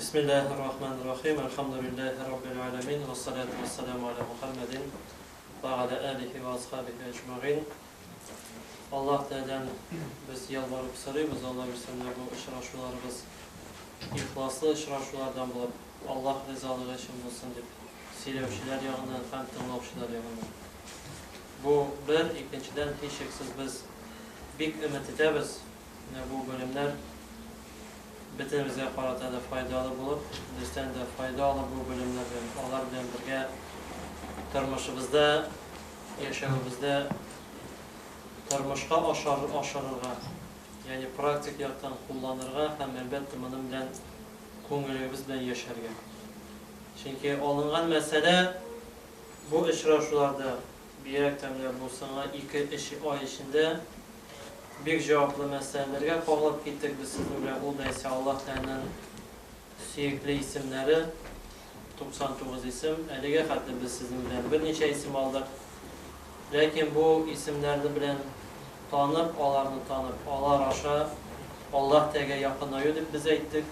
Бисмиллаһир-рахманир-рахим. Әлхәмдүлиллаһи раббил галәмин. Вә ссалату вә ссаламу галә Мухәммәдин вә галә алихи вә асхабихи әҗмәгыйн. Аллаһ Тәгаләдән без ялварып сорыйбыз, Аллаһ бирсә, менә бу очрашуларыбыз ихласлы очрашулардан булып, Аллаһ ризалыгы өчен булсын дип. сөйләүчеләр ягыннан һәм тыңлаучылар ягыннан. Бу, бер, икенчедән, һичшиксез без бик өмет итәбез, менә бу белемнәр бөтенебезгә карата да файдалы булып, бездән дә файда алып бу белемнәр белән, алар белән бергә тормышыбызда, яшәвебездә тормышка ашырырга, ягъни практик яктан кулланырга һәм, әлбәттә, моның белән күңелебез белән яшәргә. Чөнки алынган мәсьәлә бу очрашуларда, бигрәк тә менә бу соңгы ике-өч ай эчендә бик җаваплы мәсьәләләргә кагылып киттек без сезнең белән, ул да исә Аллаһ Тәгаләнең сөекле исемнәре, 99 исем. Әлегә хәтле без сезнең белән берничә исем алдык. Ләкин бу исемнәрне белән танып, аларны танып, алар аша Аллаһ Тәгаләгә якынаю дип без әйттек.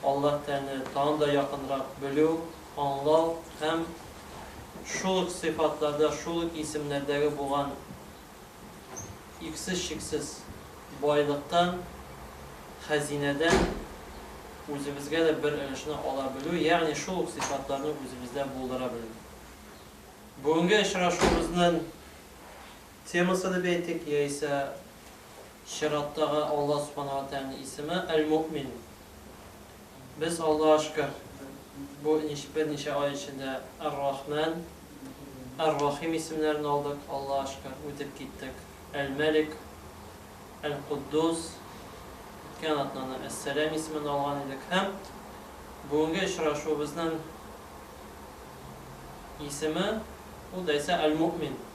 Аллаһ Тәне тагын да якынрак белү, аңлау һәм шул ук сыйфатларда, шул ук исемнәрдәге булган иксез-чиксез байлыктан, хәзинәдән үзебезгә дә бер өлешне ала белү, ягъни шул ук сыйфатларны үзебездә булдыра белү. Бүгенге очрашуыбызның Темасы дип әйтик, яисә чираттагы Алла Субхана ва Тәгаләнең исеме, Әл-Муэмин. Без, Аллага шөкер, бу берничә ай эчендә Әр-Рахмән, Әр-Рахим исемнәрен алдык, Аллага шөкер, үтеп киттек. Әл-Мәлик, Әл-Котдус, үткән атнаны Әс-Сәлам исемен алган идек һәм бүгенге очрашуыбызның исеме, ул да исә Әл-Муэмин.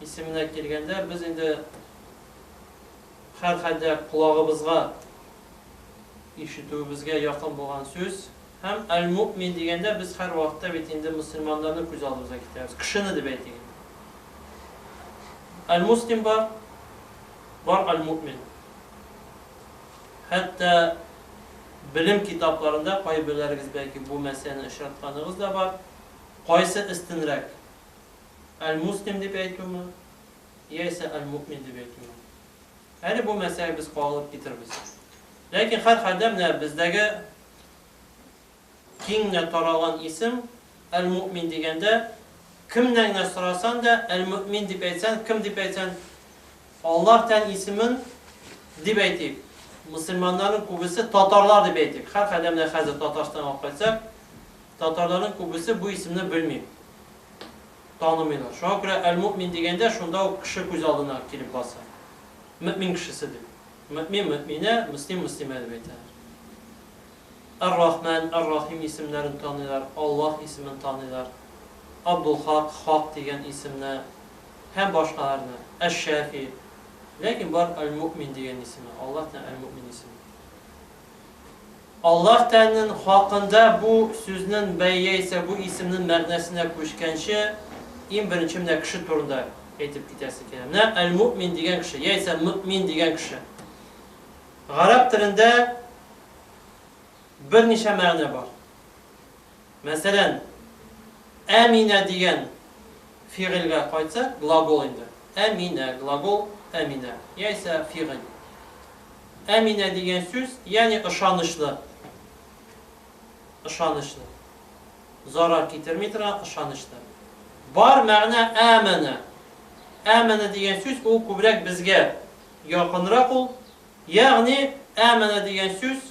Исеменә килгәндә, без инде һәрхәлдә колагыбызга ишетүебезгә якын булган сүз. Һәм әл-муэмин дигәндә, без һәрвакытта бит инде мөселманнарны күз алдыбызга китерәбез, кешене дип әйтик инде. Әл-муслим бар, бар әл-муэмин. Хәтта белем китапларында кайберләрегез бәлки бу мәсьәләне очратканыгыз да бар. Кайсы өстенрәк? Әл-Муслим дип әйтүме, яисә Әл-Муэмин дип әйтүме? Әле бу мәсьәләгә без кагылып китербез. Ләкин һәрхәлдә менә бездәге киң генә таралган исем Әл-Муэмин дигәндә, кемнән генә сорасан да, Әл-Муэмин дип әйтсән, кем дип әйтсән, Аллаһ тән исемен дип әйтик. Мөселманнарның күбесе татарлар дип әйтик. Һәрхәлдә менә хәзер Татарстанга алып кайтсак, татарларның күбесе бу исемне белми. танымыйлар. Шуңа күрә әл-мөэмин дигәндә, шунда ук кеше күз алдына килеп баса. Мөэмин кешесе дип. Мөэмин, мөэминә, мөслим, мөслимә дип әйтәләр. Әр-Рахмән, Әр-Рахим исемнәрен таныйлар, Аллаһ исемен таныйлар, Абдулхак, Хак дигән исемне һәм башкаларны, Әш-Шәфи. Ләкин бар әл-мөэмин дигән исеме, Аллаһ та әл-мөэмин исеме. Аллаһ тәнен хакында бу сүзнен бәй яисә бу исемнен мәгънәсенә күчкәнче, ин беренче менә кеше турында әйтеп китәсе килә. Менә әл-муэмин дигән кеше, яисә мөэмин дигән кеше. Гарәп телендә берничә мәгънә бар. Мәсәлән, әминә дигән фигыльгә кайтсак, глагол инде. Әминә, глагол, әминә, яисә фигыль. Әминә дигән сүз, ягъни ышанычлы. Ышанычлы. Зарар китерми торган ышанычлы. Бар мәгънә әмәнә. Әмәнә дигән сүз ул күбрәк безгә якынрак ул. Ягъни әмәнә дигән сүз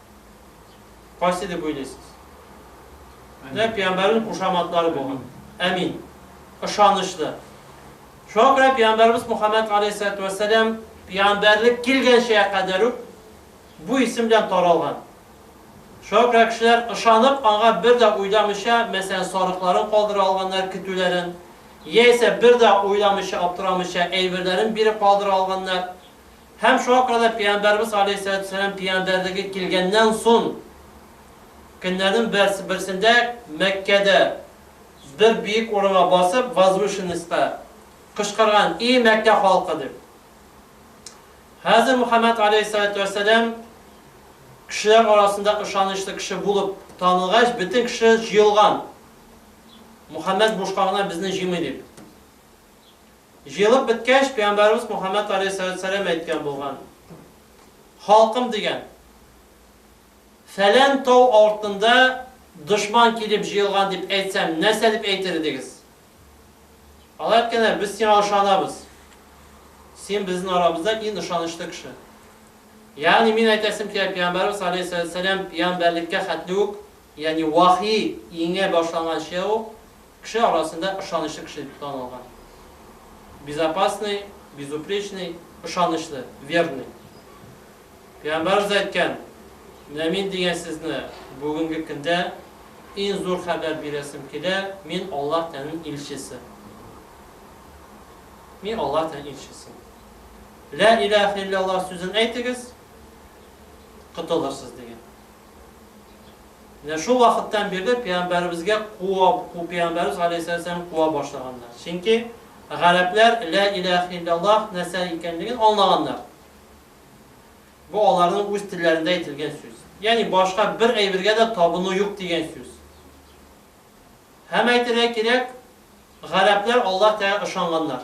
Кайсы дип уйлыйсыз? Менә пәйгамбәрнең кушаматлары булган. Әмин. Ышанычлы. Шуңа күрә пәйгамбәрбез Мухаммад галәйһиссәләтү вәссәлам пәйгамбәрлек килгәнчә кадәр үк бу исем белән таралган. Шуңа күрә кешеләр ышанып, аңа бер дә уйламыйча, мәсәлән, сарыкларын калдыра алганнар көтүләрен, яисә бер дә уйламыйча, аптырамыйча әйберләрен биреп калдыра алганнар. Һәм шуңа күрә дә Пәйгамбәребез алейһиссәләтү-вәссәлам пәйгамбәрлеге килгәннән сон көннәрнең берс берсендә Мәккәдә бер биек урынга басып, возвышенностька, кычкырган, И Мәккә халкы! дип. Хәзер Мөхәммәд алейһиссәләтү-вәссәлам кешеләр арасында ышанычлы кеше булып танылгач, бөтен кеше җыелган. Мөхәммәд бушка гына безне җыймый дип. Җыелып беткәч, пәйгамбәребез Мөхәммәд галәйһиссәләм әйткән булган, Халкым, дигән, фәлән тау артында дошман килеп җыелган дип әйтсәм, нәрсә дип әйтер идегез? Алар әйткәннәр, Без сиңа ышанабыз. Син безнең арабызда иң ышанычлы кеше. Ягъни мин әйтәсем килә, пәйгамбәребез галәйһиссәләм пәйгамбәрлеккә хәтле үк, ягъни вахи иңә башланганчы ук, Кеше арасында ышанычлы кеше дип танылган. Безопасный, безупречный, ышанычлы, верный. Пәйгамбәребез әйткән, Менә мин дигән сезне бүгенге көндә иң зур хәбәр бирәсем килә, мин Аллаһ Тәнен илчесе. Мин Аллаһ Тәнен илчесе. Лә иләһә илляллаһ сүзен әйтегез, котылырсыз дигән. Менә шул вакыттан бирле пәйгамбәребезгә куа, ку пәйгамбәребез галәйһиссәләм куа башлаганнар. Чөнки гарәпләр лә иләһ илләллаһ нәрсә икәнлеген аңлаганнар. Бу аларның үз телләрендә әйтелгән сүз. Ягъни башка бер әйбергә дә табыну юк дигән сүз. Һәм әйтергә кирәк, гарәпләр Аллаһ Тәгалә ышанганнар.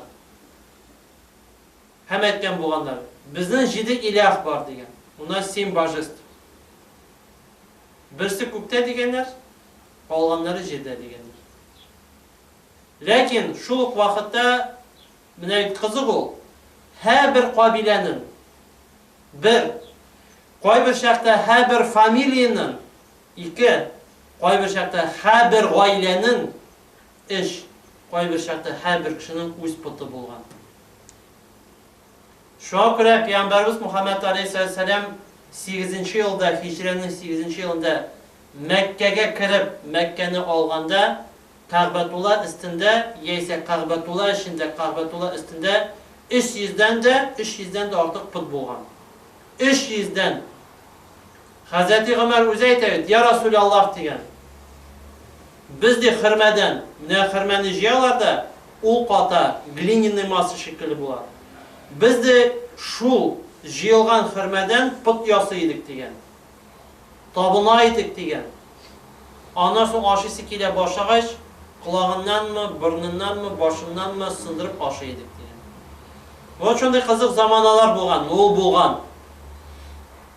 Һәм әйткән булганнар, Безнең җиде иләһ бар, дигән. У нас семь божеств. Берсе күктә, дигәннәр, калганнары җирдә, дигәннәр. Ләкин шул ук вакытта, менә бит кызык ул, һәбер кабиләнең, бер, кайбер чакта һәбер фамилиянең, ике, кайбер чакта һәбер гаиләнең, Эш, кайбер чакта һәрбер кешенең үз поты булган. Шуңа күрә пәйгамбәребез Мөхәммәд аләйһиссәлам сигезенче елда, һиҗрәнең сигезенче елында Мәккәгә кереп, Мәккәне алганда, Кәгъбәтулла өстендә яисә Кәгъбәтулла эчендә, Кәгъбәтулла өстендә өч йөздән дә, өч йөздән дә артык пот булган. Өч йөздән! Хәзрәти Гомәр үзе әйтә бит, Йә Расүле Аллаһ, дигән, без, ди, хөрмәдән, менә хөрмәне җыялар да, ул ката, глиняный масса шикелле була. Без, ди, шул җыелган хөрмәдән пот ясый идек, дигән. Табына идек, дигән. Аннан соң ашыйсы килә башлагач, колагыннанмы, борыныннанмы, башыннанмы сындырып ашый идек, дигән. Вот шундый кызык заманалар булган, ул булган.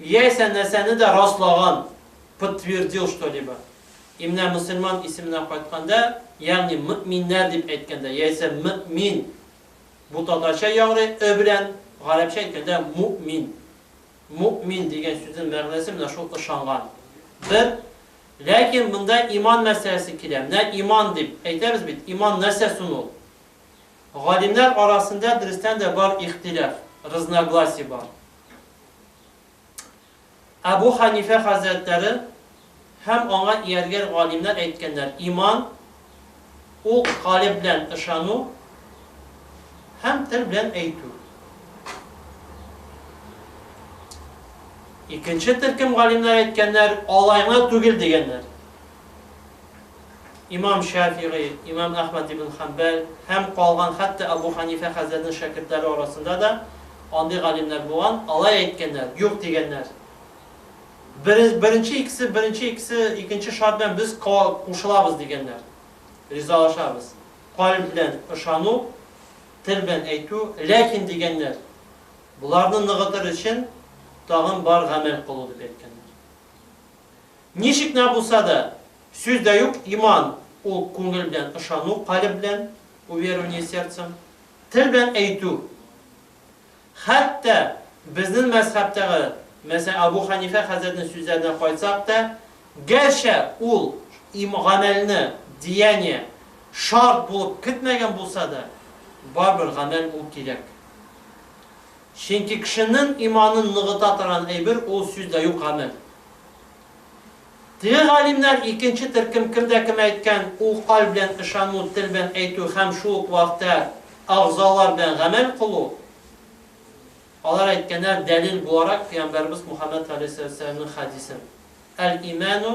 Яисә нәрсәне дә раслаган, подтвердил что-либо. И менә мөселман исеменә кайтканда, ягъни мөэминнәр дип әйткәндә, яисә мөэмин, бу татарча яңгырый, ы белән, гарәпчә әйткәндә, муэмин. Муэмин дигән сүзнең мәгънәсе менә шул ышанган. Бер. Ләкин монда иман мәсьәләсе килә. Менә иман дип әйтәбез бит, иман нәрсә сон ул? Галимнәр арасында дөрестән дә бар ихтилаф, разногласие бар. Әбү Хәнифә хәзрәтләре һәм аңа ияргән галимнәр әйткәннәр, иман, ул калеб белән ышану һәм тел белән әйтү. Икенче төркем галимнәр әйткәннәр, алай гына түгел, дигәннәр. Имам Шәфигый, имам Әхмәд ибн Хәнбәл һәм калган хәтта Әбү Хәнифә хәзрәтнең шәкертләре арасында да андый галимнәр булган, алай әйткәннәр, юк дигәннәр. Бере, беренче икесе, беренче икесе, икенче шарт белән без ка, кушылабыз дигәннәр. Ризалашабыз. Калб белән ышану, тел белән әйтү, ләкин дигәннәр, боларны ныгытыр өчен тагын бар гамәл кылу дип әйткәннәр. Ничек нә булса да, сүз дә юк, иман, ул күңел белән ышану, калеб белән, уверование сердцем, тел белән әйтү. Хәтта безнен мәзхәбтәге, мәсәлән, Абу Хәнифә хәзрәтнен сүзләренә кайтсак та, гәрчә ул им, гамәлне, деяние, шарт булып кетмәгән булса да, барыбер гамәл ул кирәк. Ченки кешенен иманын ныгыта торган әйбер ул сүз дә юк, гамәл. Теге галимнәр икенче төркем кемдә кем әйткән ул каль белән ышану, тел белән әйтү һәм шул ук вакытта әгъзалар белән гамәл кылу, алар әйткәннәр дәлил буларак пәйгамбәребез Мухаммәд галәйһиссәламнең хәдисен, әл-имәну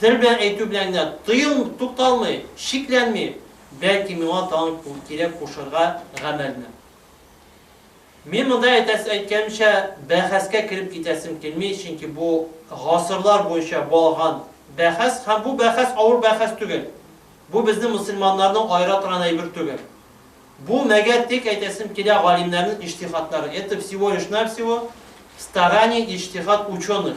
Тел белән әйтү белән генә тыел, тукталмый, шикләнми, бәлки миңа тагын кирәк кушарга гамәлне. Мин монда әйтәсе әйткәнемчә бәхәскә кереп китәсем килми, чөнки бу гасырлар буенча балган бәхәс һәм бу бәхәс авыр бәхәс түгел. Бу безне мөселманнарны аера торган әйбер түгел. Бу, мәгәр тик әйтәсем килә галимнәрнең иҗтихадлары, это всего лишь навсего старания иҗтихад ученых.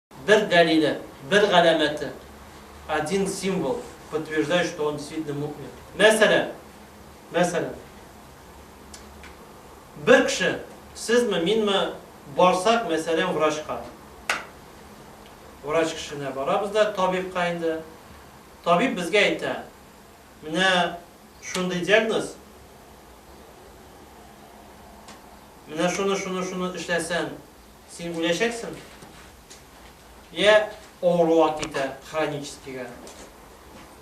Бер дәлиле, бер галәмәте, один символ, подтверждающий, что он действительно му'мин. Мәсәлән, мәсәлән, бер кеше, сезме, минме, барсак, мәсәлән, врачка. Врач кешенә барабыз да, табибка инде. Табиб безгә әйтә, менә шундый диагноз, менә шуны, шуны, шуны эшләсәң, Син үләчәксең. Йә авыруга китә, хроническийга.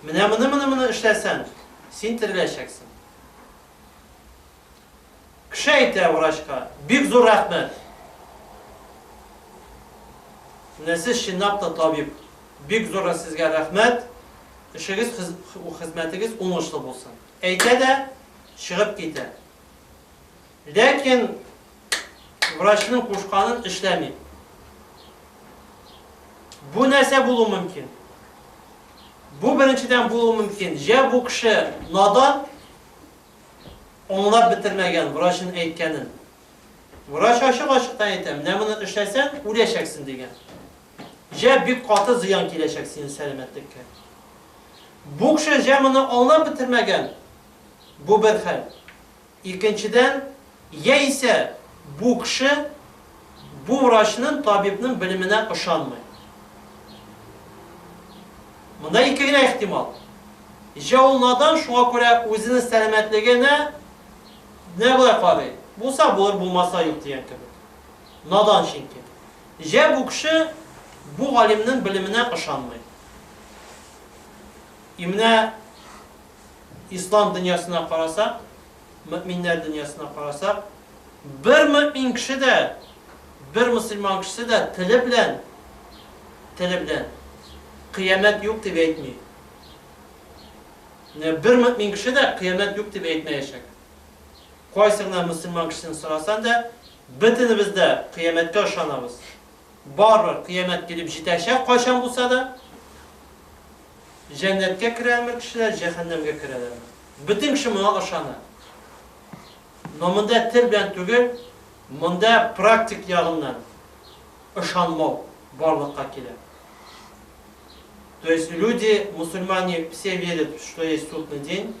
Менә моны, моны, моны эшләсәң, син тереләчәксең. Кеше әйтә врачка, бик зур рәхмәт. Менә сез чынлап та табиб. Бик зур сезгә рәхмәт. Эшегез, хезмәтегез уңышлы булсын. Әйтә дә чыгып китә. Ләкин врачның кушканын эшләми. Бу нәрсә булу мөмкин? Бу беренчедән булу мөмкин. Җә бу кеше надан, аңлап бетермәгән врачын әйткәнен. Врач ачык-ачыктан әйтә, менә моны эшләсәң, үләчәксен дигән. Җә бик каты зыян киләчәк синең сәламәтлеккә. Бу кеше җә моны аңлап бетермәгән. Бу бер хәл. Икенчедән, яисә бу кеше бу врачның, табибның белеменә ышанмый. Монда ике генә ихтимал. Җә ул надан, шуңа күрә үзенең сәламәтлегенә менә болай карый, булса булыр, булмаса юк дигән кебек. Надан чөнки. Җә бу кеше бу галимнең белеменә ышанмый. И менә Ислам дөньясына карасак, мөэминнәр дөньясына карасак, бер мөэмин кеше дә, бер мөселман кешесе дә теле белән, теле белән, кыямәт юк дип әйтми. Менә бер мөэмин кеше дә кыямәт юк дип әйтмәячәк. Кайсы гына мөселман кешесен сорасаң да, бөтенебез дә кыямәткә ышанабыз. Барыбер кыямәт килеп җитәчәк кайчан булса да. Җәннәткә керәме кешеләр, җәһәннәмгә керәләрме? Бөтен кеше моңа ышана. Но монда тел белән түгел, монда практик ягыннан ышанмау барлыкка килә. То есть люди, мусульмане все верят, что есть судный день,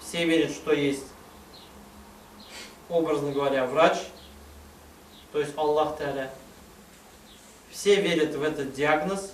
все верят, что есть, образно говоря, врач, то есть Аллах Тәгалә, все верят в этот диагноз,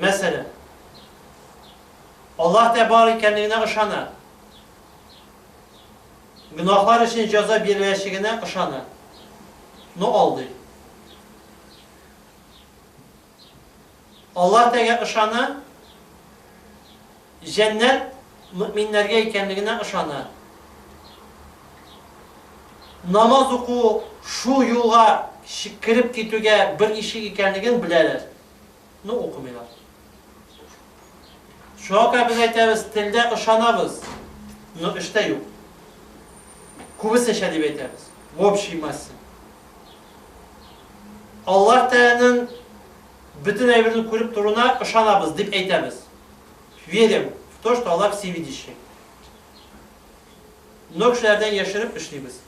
Мәсәлән, Аллаһ та бар икәнлегенә ышана, гөнаһлар өчен җәза биреләчәгенә ышана, но алдый. Аллаһ тәгә ышана. Җәннәт мөэминнәргә икәнлегенә ышана. Намаз уку шул юлга кереп китүгә бер ишек икәнлеген беләләр, но укымыйлар. Шуңа күрә без әйтәбез, телдә ышанабыз, но эштә юк. Күбесенчә дип әйтәбез, в общей массе. Аллаһ Тәгаләнең бөтен әйберне күреп торуына ышанабыз, дип әйтәбез. Верим в то, что Аллах всевидящий. Но кешеләрдән яшереп эшлибез.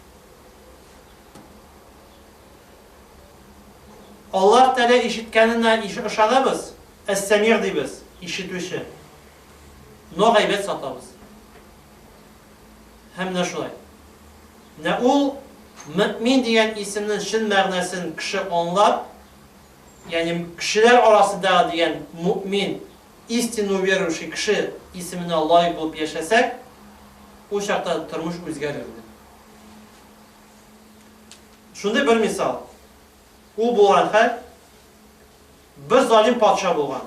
Аллах Тәлә ишеткәненә ышанабыз, әс-сәмир дибез, ишетүче. Но гайбәт сатабыз. Һәм менә шулай. Менә ул мөмин дигән исемнең чын мәгънәсен кеше аңлап, Ягъни кешеләр арасындагы дигән му'мин, истинно уверовавший кеше исеменә лаек булып яшәсәк, ул чакта тормыш үзгәрер иде. Шундый бер мисал. Ул булган хәл, бер залим патша булган.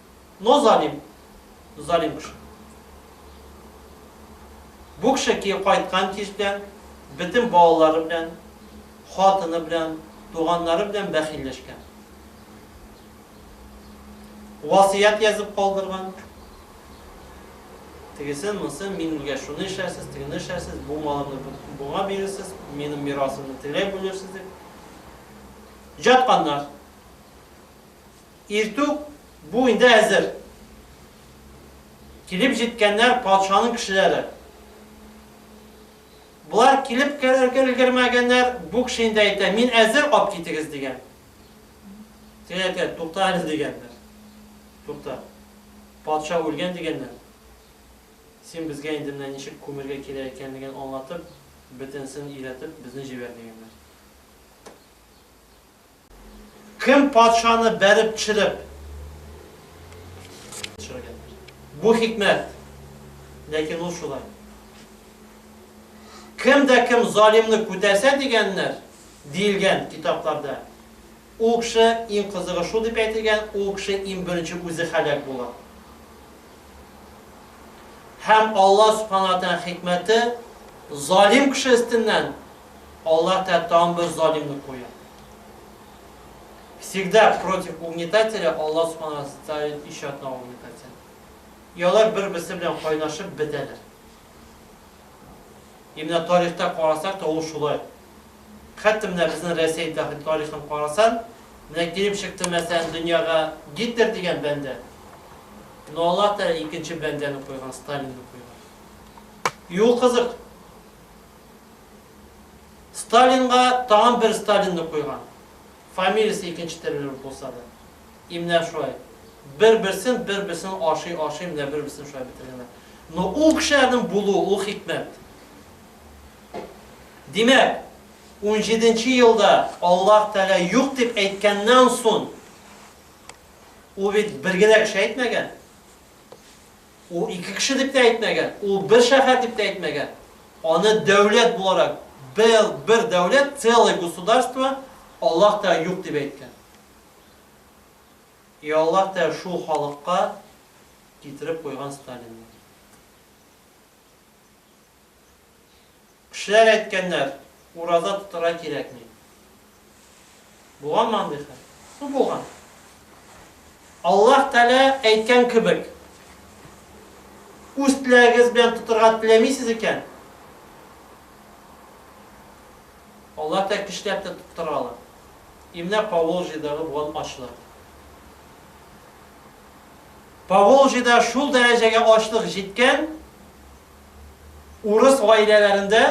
Но залим, залим кеше. Бу кеше ки кайткан кич белән бөтен балалары белән, хатыны белән, туганнары белән бәхилләшкән. Васыять язып калдырган. Тегесен, монысын, мин үлгәч шуны эшләрсез, тегене эшләрсез, бу малымны буңа бирерсез, минем мирасымны тегеләй бүлерсез дип. Жатканнар. Иртүк бу инде әзер. Килеп җиткәннәр патшаның кешеләре. Болар килеп керергә өлгермәгәннәр, бу кеше инде әйтә, мин әзер, алып китегез, дигән. Тегеләр әйтә, тукта әле, дигәннәр. Тукта. Патша үлгән дигәннәр. Син безгә инде менә ничек күмергә кирәк икәнлеген аңлатып, бөтенесен өйрәтеп, безне җибәр, дигәннәр. Кем патшаны бәреп төшереп төшергәндер? Бу хикмәт. Ләкин ул шулай. Кем дә кем залимны күтәрсә дигәннәр, диелгән китапларда. Ул кеше иң кызыгы шул дип әйтелгән, ул кеше иң беренче үзе хәлак була. Һәм Алла Субхану ва Тааля хикмәте залим кеше өстеннән Аллаһ тә тагын бер залимны куя. Всегда против угнетателя Аллаһ Субхана ставит еще одного угнетателя. И алар бер-берсе белән кайнашып бетәләр. И менә тарихта карасак та ул шулай. Хәтта менә безнең Россия тарихын карасаң, менә килеп чыкты мәсәлән дөньяга Гитлер дигән бәндә. Но Аллаһ та икенче бәндәне куйган, Сталинны куйган. И ул кызык. Сталинга тагын бер Сталинны куйган. Фамилиясе икенче терелеп булса да. И менә шулай. Бер-берсен, бер-берсен ашый-ашый менә бер-берсен шулай бетергәннәр. Но ул кешеләрнең булуы, ул хикмәт. Димәк, унҗиденче елда Аллаһ Тәгалә юк дип әйткәннән сон, ул бит бер генә кеше әйтмәгән. Ул ике кеше дип тә әйтмәгән, ул бер шәһәр дип тә әйтмәгән. Аны дәүләт буларак, бел, бер дәүләт, целое государство, Аллаһ та юк дип әйткән. И Аллаһ та шул халыкка китереп куйган Сталинны. Кешеләр әйткәннәр, ураза тотырга кирәкми. Булганмы андый хәл? Ну, булган. Аллаһ Тәгалә әйткән кебек, үз теләгегез белән тотырга теләмисез икән, Аллаһ Тәгалә кешеләр тә тотыра ала. И менә Поволжьедагы булган ачлык. Поволжьеда шул дәрәҗәгә ачлык җиткән, Урыс гаиләләрендә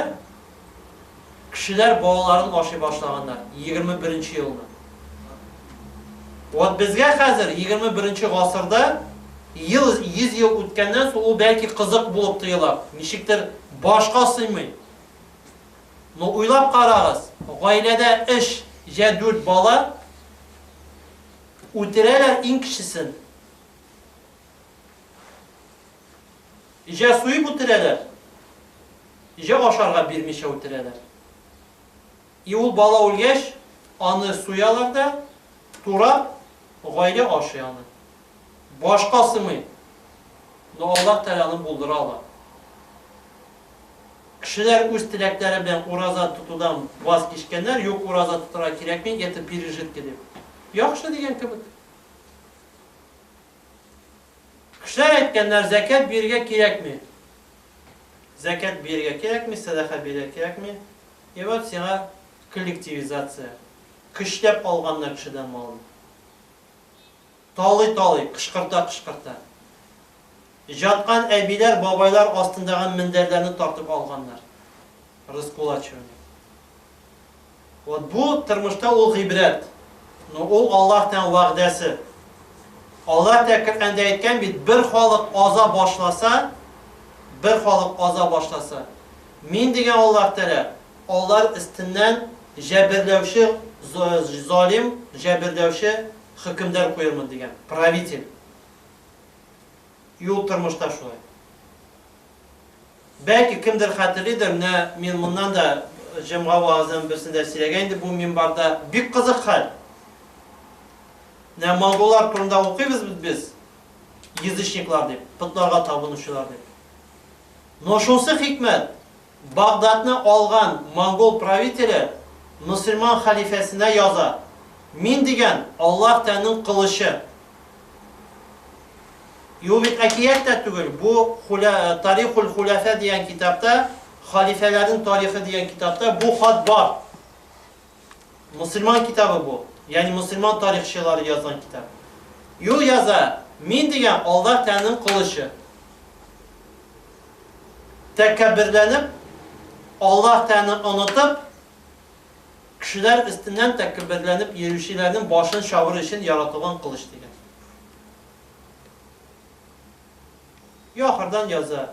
кешеләр балаларын ашый башлаганнар, егерме беренче елны. Вот безгә хәзер, егерме беренче гасырда, ел, йөз ел үткәннән соң ул бәлки кызык булып тоела, ничектер башка сыймый. Но уйлап карагыз, гаиләдә өч я дүрт бала үтерәләр иң кечесен. Җә суеп үтерәләр, җә ашарга бирмичә үтерәләр. И ул бала үлгәч, аны суялар да, турап, гаилә ашый аны. Башка сымый. Но Аллаһ Тәгалә аны булдыра ала. Кешеләр үз теләкләре белән ураза тотудан ваз кичкәннәр, юк, ураза тотарга кирәкми, это пережитки дип. Яхшы дигән кебек. Кешеләр әйткәннәр, Зәкят бирергә кирәкми. Зәкят бирергә кирәкми, сәдака бирергә кирәкми. И вот сиңа коллективизация. Көчләп алганнар кешедән малын. Талый-талый, кычкырта-кычкырта. Җаткан әбиләр, бабайлар астындагы мендәрләрне тартып алганнар. Раскулачивание. Вот бу тормышта ул гыйбрәт. Но ул Аллаһтан вәгъдәсе. Аллаһ та Коръәндә әйткән бит, бер халык аза башласа, бер халык аза башласа, мин дигән Аллаһ Тәгалә алар өстеннән җәберләүче залим, җәберләүче хөкемдар куермын дигән, правитель. Юл тормышта шулай. Бәлки кемдер хәтерлидер, менә мин моннан да җомга вәгазьләренең берсендә сөйләгән идем бу минбарда. Бик кызык хәл. Менә монголлар турында укыйбыз бит без, язычниклар дип, потларга табынучылар дип. Но шунсы хикмәт, Багдадны алган монгол правителе мөселман хәлифәсенә яза, Мин дигән Аллаһ тәннең кылычы. Юк бит, әкият тә түгел. Бу Хуля, Тарихул Хуляфә дигән китапта, халифәләрнең тарихы дигән китапта бу хат бар. Мусульман китабы бу. Ягъни мусульман тарихчылары язган китап. Юл яза, мин дигән Аллаһ Тәгаләнең кылычы. Тәкәбберләнеп, Аллаһ Тәгаләне онытып, Кешеләр өстеннән тәкәбберләнеп йөрүчеләрнең башын чабыр өчен яратылган кылыч дигән. И ахырдан яза,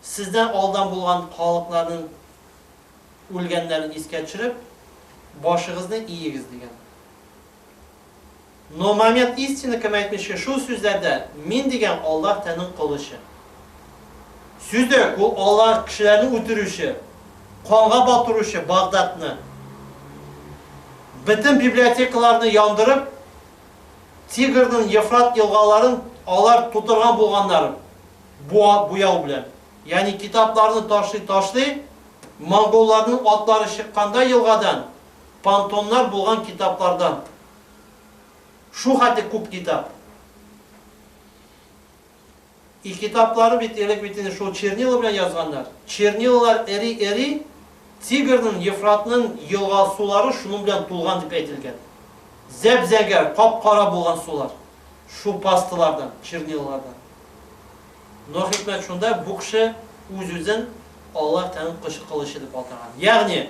Сездән алдан булган халыкларның үлгәннәрен искә төшереп, башыгызны иегез, дигән. Но момент истины кем әйтмешкә шул сүзләрдә мин дигән Аллаһ тәнең колы чын. Сүзек, ул Аллаһ кешеләрне үтерүче, канга батыручы Багдадны, бөтен библиотекаларны яндырып, Тигрнын, Ефрат елгаларын алар тутырган булганнар бу буяу белән. Ягъни китапларны ташлый ташлый, монголларның атлары чыкканда елгадан, пантоннар булган китаплардан Шу хәтле күп китап. И китаплары бит элек бит инде шул чернила белән язганнар. Чернилалар эри-эри, Тигрнын, Ефратнын елга сулары шуның белән тулган дип әйтелгән. Зәп-зәңгәр, кап-кара булган сулар. Шу пастылардан, чернилалардан. Но хикмәт шунда, бу кеше үз-үзен Аллаһ Тәгаләнең кылычы дип атаган. Ягъни,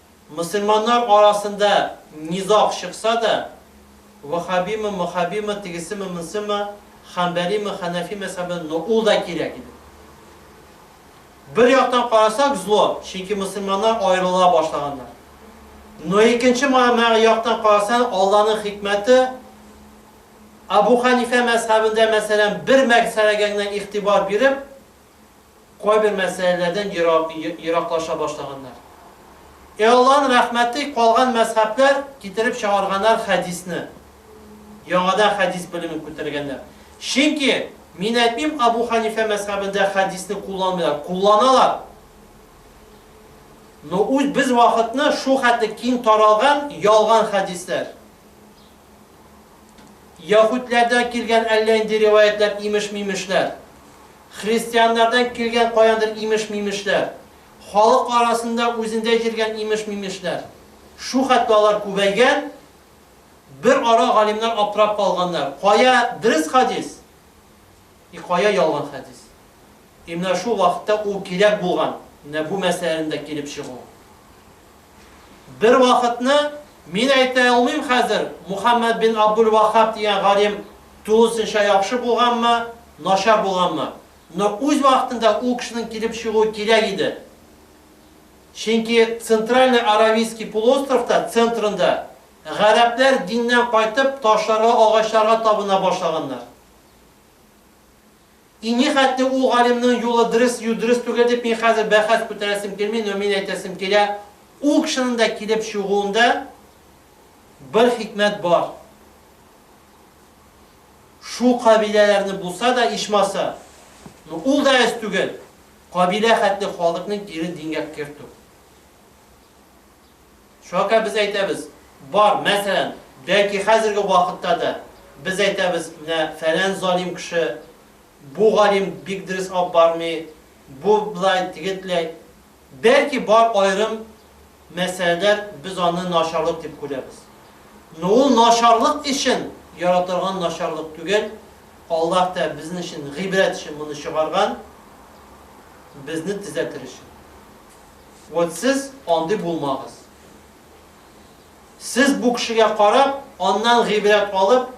Мөселманнар арасында низаг чыкса да, ваһһабимы, мохабимы, тегесеме, монсымы, хәнбәлиме, хәнәфи мәзһәбе, но ул да кирәк иде. Бер яктан карасак, зло, чөнки мөселманнар аерыла башлаганнар. Но икенче мә яктан карасаң, Алланың хикмәте, Әбу Хәнифә мәзһәбендә, мәсәлән, бер мәсьәләгә генә игътибар биреп, Кайбер мәсьәләләрдән ераклаша башлаганнар. Ә Аллаһның рәхмәте калган мәзһәбләр китереп чыгарганнар хәдисне. Яңадан хәдис белемен күтәргәннәр. Чөнки мин әйтмим Абу Хәнифә мәзһәбендә хәдисне кулланмыйлар, кулланалар. Но үз без вакытны шул хәтле киң таралган ялган хәдисләр. Яһүдләрдән килгән әллә нинди риваятьләр, имеш-мимешләр, христианнардан килгән каяндыр имеш-мимешләр, халык арасында үзендә җиргән имеш-мимешләр. Шу хәтле алар күбәйгән, бер ара галимнар аптырап калганнар, кая дөрес хәдис, и кая ялган хәдис. И менә шул вакытта ул кирәк булган, менә бу мәсьәләнең дә килеп чыгуы. Бервакытны, мин әйтә алмыйм хәзер, Мухәммәд бин Абдул-Ваһһаб дигән галим тулысынча яхшы булганмы, начар булганмы, но үз вакытында ул кешенең килеп чыгуы кирәк иде. Чөнки Центральный Аравийский полуостровта центрында гарәпләр диннән кайтып, ташларга, агачларга табына башлаганнар. И нихәтле ул галимнең юлы дөрес ю дөрес түгел дип мин хәзер бәхәс күтәрәсем килми, но мин әйтәсем килә, ул кешенең дә килеп чыгуында бер хикмәт бар. Шул кабиләләрне булса да ичмаса, но ул да әз түгел, кабилә хәтле халыкның ирен дингә кертү. Чока без әйтәбез, бар, мәсәлән, бәлки хәзерге вакытта да без әйтәбез, менә фәлән залим кеше, бу галим бик дөрес алып бармый, бу блай, теге тләй. Бәлки бар аерым мәсьәләләр без аны начарлык дип күрәбез. Но ул начарлык өчен яратырган начарлык түгел, Аллаһ та безнең өчен гыйбрәт өчен моны чыгарган, безне төзәтер өчен. Вот сез андый булмагыз. Сез бу кешегә карап, аннан гыйбрәт алып,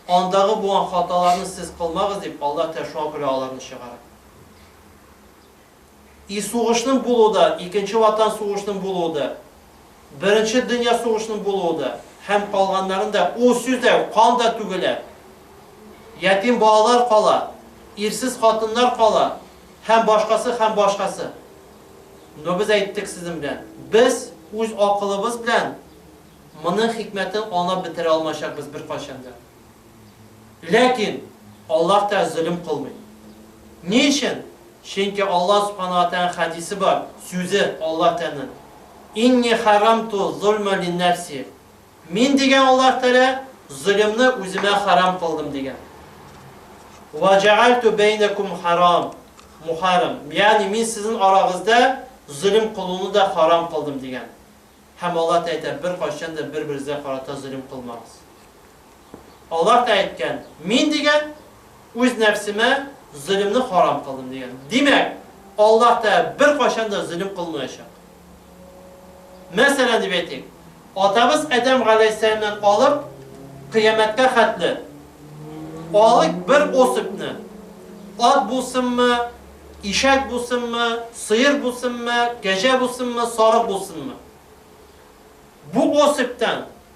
андагы булган хаталарны сез кылмагыз дип, Аллаһ Тәгалә шуңа күрә аларны чыгара. И сугышның булуы да, икенче ватан сугышының булуы да, беренче дөнья сугышының булуы да һәм калганнарын да ул сүз дә кан да түгелә. Ятим балалар кала, ирсез хатыннар кала һәм башкасы һәм башкасы. Но без әйттек сезнең белән, без үз акылыбыз белән моның хикмәтен анлап бетерә алмаячакбыз беркайчан да. Ләкин Аллаһ та зөлем кылмый. Ни өчен? Чөнки Аллаһ Субхана ва Тәгаләнең хәдисе бар, сүзе Аллаһ Тәгаләнең, Инни харамту зульма линнәфси. Мин, дигән Аллаһ Тәгалә, золымны үземә харам кылдым, дигән. Вә җәгальтү бәйнәкүм харам, мухарам. Ягъни, мин сезнең арагызда золым кылуны да харам кылдым, дигән. Һәм Аллаһ Тәгалә әйтә, беркайчан да бер-берегезгә карата золым кылмагыз. Аллаһ Тәгалә әйткән, Мин, дигән, үз нәфсемә золымны харам кылдым, дигән. Димәк, Аллаһ Тәгалә беркайчан да золым кылмаячак. Мәсәлән, дип әйтик, атабыз Адәм галәйһиссәламнән алып, кыямәткә хәтле, алыйк бер особьне, ат булсынмы, ишәк булсынмы, сыер булсынмы, кәҗә булсынмы, сарык булсынмы, бу особьтан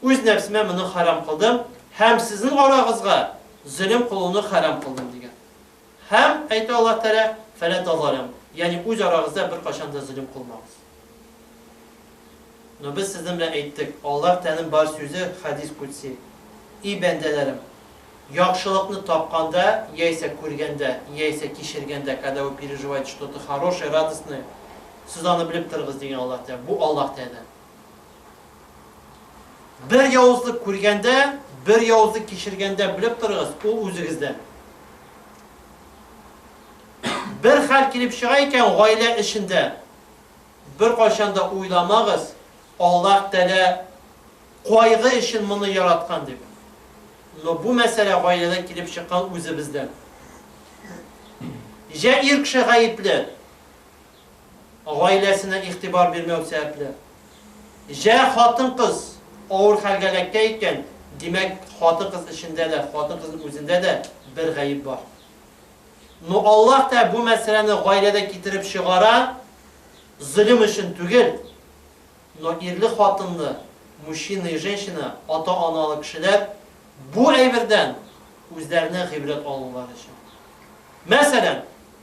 үз нәфсемә моны хәрам кылдым һәм сезнең арагызга зөлем кылуны хәрам кылдым, дигән. Һәм, әйтә Аллаһ Тәгалә, Фәлә тазаляму, ягъни үз арагызда беркайчан да зөлем кылмагыз. Но без сезнең белән әйттек, Аллаһ Тәгаләнең бар сүзе, хәдис кудси, И бәндәләрем! Яхшылыкны тапканда, яисә күргәндә, яисә кичергәндә, когда вы переживаете что-то хорошее, радостное, сез аны белеп торыгыз, дигән Аллаһ Тәгалә. Бу Аллаһ Тәгаләдән. Бер явызлык күргәндә, бер явызлык кичергәндә белеп торыгыз, ул үзегездән. Бер хәл килеп чыга икән гаилә эшендә, бер кайчан да уйламагыз, Аллаһ Тәлә кайгы өчен моны яраткан дип. Но бу мәсьәлә гаиләдә килеп чыккан үзебездән. Җә ир кеше гаепле, гаиләсенә игътибар бирмәү сәбәпле. Җә, хатын-кыз авыр хәлгә эләккән икән, димәк, хатын-кыз эчендә дә, хатын-кызның үзендә дә бер гаеп бар. Ну, Аллаһ та бу мәсьәләне гаиләдә китереп чыгара, золем өчен түгел. Но ирле-хатынлы, мужчина и женщина, ата-аналы кешеләр бу әйбердән үзләренә гыйбрәт алулары өчен. Мәсәлән.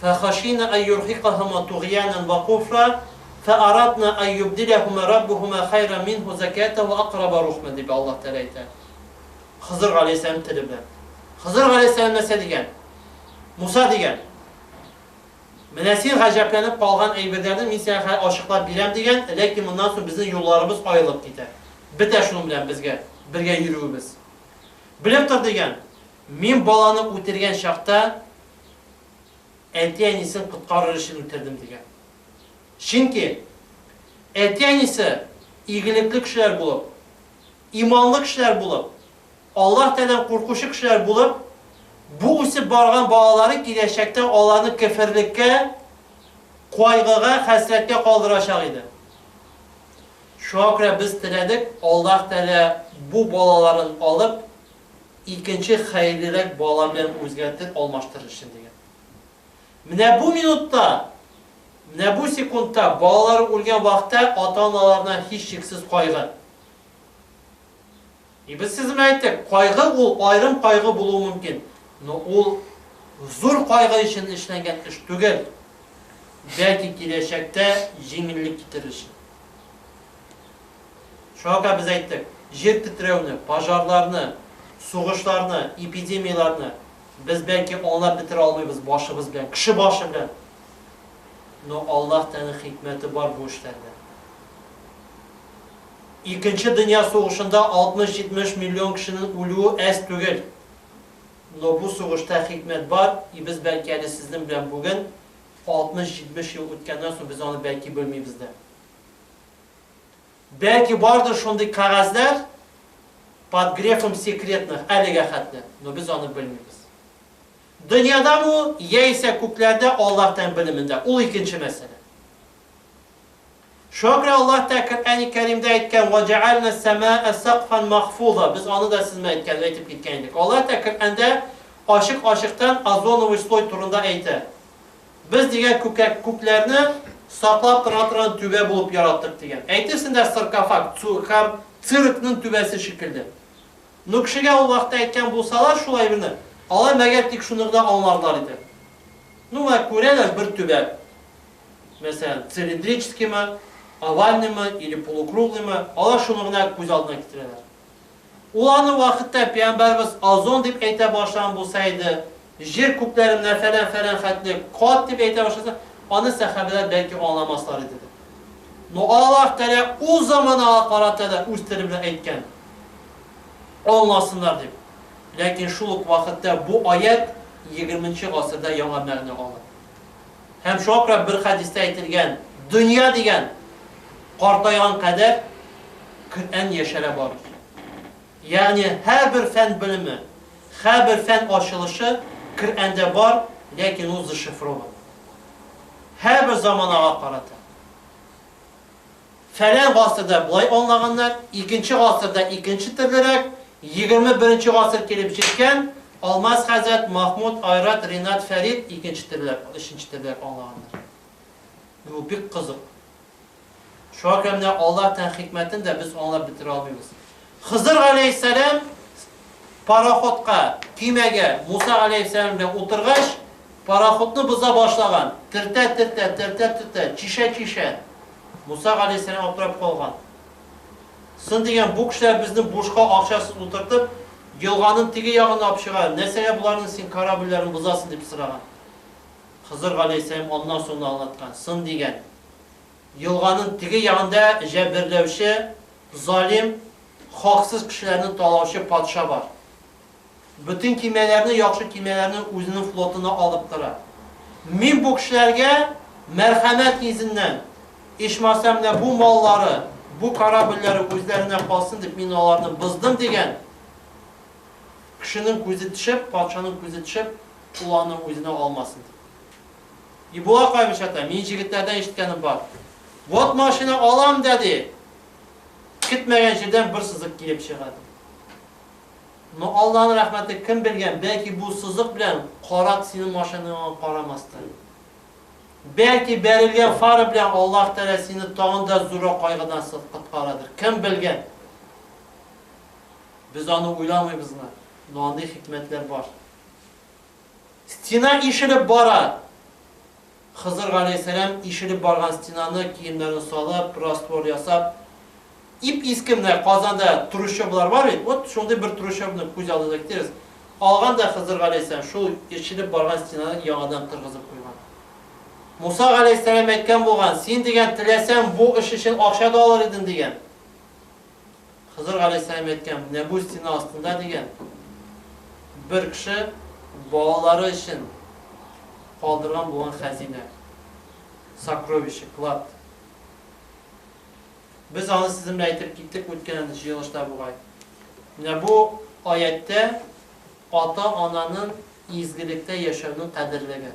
Фәхашина ан юрһикаһума тугъйанан вә куфра, фәарадна ан юбдиләһума раббухума хайран минһу закәтан вә акъраба рухмән, дип Аллаһ Тәгалә әйтә Хызыр галәйһиссәлам теле белән. Хызыр галәйһиссәлам нәрсә дигән? Муса дигән, Менә син гаҗәпләнеп калган әйберләрне мин сиңа хәзер ачыклап бирәм, дигән, ләкин моннан соң безнең юлларыбыз аерылып китә. Бетә шуның белән безгә бергә йөрүебез. Белеп тор, дигән, мин баланы үтергән чакта, әти-әнисен коткарыр өчен үтердем, дигән. Чөнки әти-әнисе игелекле кешеләр булып, иманлы кешеләр булып, Аллаһ Тәгаләдән куркучы кешеләр булып, бу үсеп барган балалары киләчәктә аларны кеферлеккә, кайгыга, хәсрәткә калдырачак иде. Шуңа күрә без теләдек, Аллаһ Тәгалә бу балаларын алып, Икенче хәерлерәк бала белән үзгәртеп алмаштырыр өчен дигән. Менә бу минутта, менә бу секундта балалары үлгән вакытта ата-аналарына һичшиксез кайгы. И без сезгә әйттек, кайгы ул аерым кайгы булуы мөмкин, но ул зур кайгы өчен эшләнгән эш түгел, бәлки киләчәктә җиңеллек китерер өчен. Шуңа күрә без әйттек, җир тетрәүне, пожарларны, сугышларны, эпидемияләрне без бәлки аңлап бетерә алмыйбыз башыбыз белән, кеше башы белән, но Аллаһ Тәгаләнең хикмәте бар бу эшләрдә. Икенче дөнья сугышында 60-70 миллион кешенең үлүе әз түгел, но бу сугышта хикмәт бар, и без бәлки әле сезнең белән бүген 60-70 ел үткәннән соң без аны бәлки белмибез дә. Бәлки бардыр шундый кәгазьләр под грефом секретных әлегә хәтле, но без аны белмибез. Дөньяда бу, яисә күкләрдә Аллаһ тән белемендә, ул икенче мәсьәлә. Шуңа күрә Аллаһ Тәгалә Коръәни Кәримдә әйткән, Ва җәгәлнә әс-сәмәә сәкъфан махфуза. Без аны да сезнең әйткән, әйтеп киткән идек. Аллаһ Тәгалә Коръәндә ачык-ачыктан озоновый слой турында әйтә. Без дигән күкәк күкләрне саклап тора торган түбә булып яраттык, дигән. Әйтерсең дә саркофаг, цу, һәм циркның түбәсе шикелле. Ну, кешегә ул вакытта әйткән булсалар шул әйберне, алар мәгәр тик шуны гына аңларлар иде. Ну, менә күрәләр бер түбә. Мәсәлән, цилиндрическиймы, овальныймы или полукруглыймы, алар шуны гына күз алдына китерәләр. Ул аны вакытта пәйгамбәребез озон дип әйтә башлаган булса иде, җир күкләренә фәлән-фәлән хәтле кат дип әйтә башласа, аны сәхабәләр бәлки аңламаслар иде дә. Но Аллаһ Тәгалә ул заманага карата да үз теле белән әйткән, аңласыннар дип. Ләкин шул ук вакытта бу аять егерменче гасырда яңа мәгънә ала. Һәм шуңа күрә бер хәдистә әйтелгән, Дөнья дигән, картайган кадәр Көрән яшәрә барыр. Ягъни һәрбер фән белеме, хәбер фән ачылышы Көрәндә бар, ләкин ул зашифрован. Һәрбер заманага карата. Фәлән гасырда болай аңлаганнар, икенче гасырда икенче төрлерәк, егерме беренче гасыр килеп җиткән, Алмаз хәзрәт, Махмуд, Айрат, Ринат, Фәрит икенче төрлерәк, өченче төрлерәк аңлаганнар. Менә бу бик кызык. Шуңа күрә менә Аллаһ Тәгаләнең хикмәтен дә без аңлап бетерә алмыйбыз. Хызыр галәйһиссәлам пароходка, көймәгә, Муса галәйһиссәлам белән утыргач, пароходны боза башлаган, төртә-төртә, төртә-төртә, чишә-чишә. Муса галәйһиссәлам аптырап калган. Сын дигән, бу кешеләр безне бушка акчасыз утыртып, елганың теге ягын апчыга, нәрсәгә боларның син корабльләрен бозасың, дип сораган. Хызыр галәйһиссәлам аннан соң да аңлаткан, сын дигән. Елганың теге ягында җәберләүче, залим, хаксыз кешеләрне талаучы патша бар. Бөтен кимәләрне, яхшы кимәләрне үзенең флотына алып тора. Мин бу кешеләргә мәрхәмәт йөзеннән, ичмасам менә бу маллары, бу корабльләре үзләренә калсын дип, мин аларны боздым, дигән. Кешенең күзе төшеп, патшаның күзе төшеп, ул аны үзенә алмасын дип. И була кайбычата, мин җегетләрдән ишеткәнем бар. Вот машина алам да ди. Көтмәгән җирдән бер сызык килеп чыга ди. Но Алланың рәхмәте кем белгән, бәлки бу сызык белән карак синең машинаң карамастыр. Бәлки бәрелгән фара белән Аллаһ Тәгалә сине тагын да зуррак кайгыдан коткарадыр. Кем белгән? Без аны уйламыйбызмы? Но андый хикмәтләр бар. Стена ишелеп бара! Хызыр галәйһиссәлам ишелеп барган стенаны киемнәрен салып, раствор ясап, ип-иске менә Казанда трущоблар бар бит, вот шундый бер трущобны күз алдына китерегез, алган да Хызыр галәйһиссәлам шул ишелеп барган стенаны яңадан торгызып куйган. Муса галәйһиссәлам әйткән булган, син дигән теләсәң бу эш өчен акча да алыр идең дигән. Хызыр галәйһиссәлам әйткән, менә бу стена астында дигән, бер кеше балалары өчен калдырган булган хәзинә, сокровище, клад. Без аны сезнең белән әйтеп киттек үткән җыелышта бугай. Менә бу аятьтә ата-ананың изгелектә яшәүнең кадерлеге.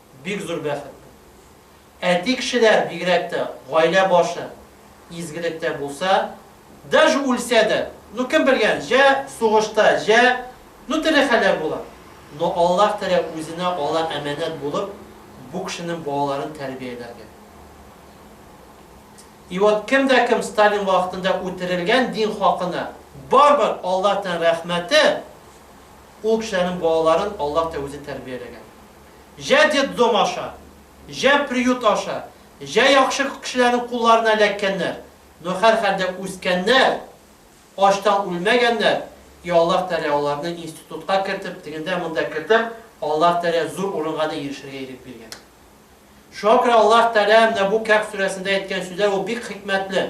Бик зур бәхет бу. Әти кешеләр, бигрәк тә, гаилә башы изгелектә булса, даже үлсә дә, ну кем белгән, җә сугышта, җә, ну төрле хәлләр була, но Аллаһ Тәгалә үзенә ала әманәт булып бу кешенең балаларын тәрбияләргә. И вот кем дә кем Сталин вакытында үтерелгән дин хакына, барбер Аллаһтан рәхмәте, ул кешеләрнең балаларын Аллаһ та үзе тәрбияләгән. җә детдом аша, җә приют аша, җә яхшы кешеләрнең кулларына эләккәннәр, но һәрхәлдә үскәннәр, ачтан үлмәгәннәр, и Аллаһ Тәгалә аларны институтка кертеп, тегендә-монда кертеп, Аллаһ Тәгалә зур урынга да ирешергә ирек биргән. Шуңа күрә Аллаһ Тәгалә менә бу Кәһф сүрәсендә әйткән сүзләр ул бик хикмәтле.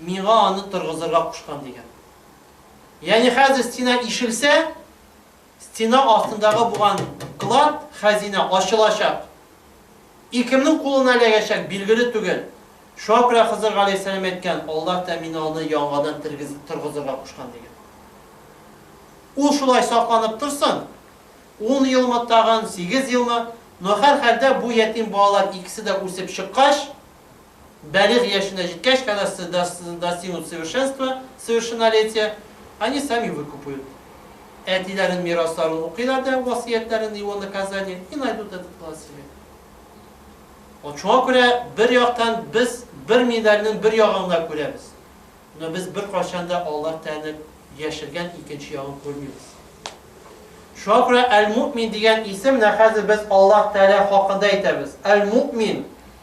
миңа аны торгызырга кушкан, дигән. Ягъни хәзер стена ишелсә, стена астындагы булган клад, хәзинә ачылачак. И кемнең кулына эләгәчәк, билгеле түгел. Шуңа күрә Хызыр галәйһиссәлам әйткән, Аллаһ та мине аны яңадан тергез, торгызырга кушкан, дигән. Ул шулай сакланып торсын, ун елмы, тагын сигез елмы, но һәрхәлдә бу ятим балалар икесе дә үсеп чыккач, Бәлигъ яшенә җиткәч, кәгазь достигнут совершенства, совершеннолетия, они сами выкупают. Әтиләрен мирасларын укыйлар да васыятьләрен его наказание и найдут этот клад себе. Вот шуңа күрә бер яктан без бер медальнең бер ягын гына күрәбез. Но без бер кайчан да Аллаһ Тәгаләнең яшергән икенче ягын күрмибез. Шуңа күрә әл-муъмин дигән исем менә хәзер без Аллаһ Тәгалә хакында әйтәбез. Әл-муъмин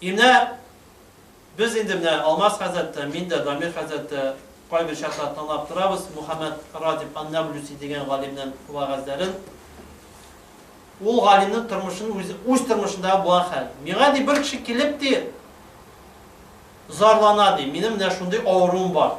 И менә без инде менә Алмаз хәзрәт тә, мин дә, Дамир хәзрәт тә кайбер чаклар тыңлап торабыз Мухәммәд Радиф ан-Наблүси дигән галимнең вәгазьләрен. Ул галимнең тормышын үзе, үз тормышындагы булган хәл. Миңа ди бер кеше килеп ди, зарлана ди, минем менә шундый авыруым бар.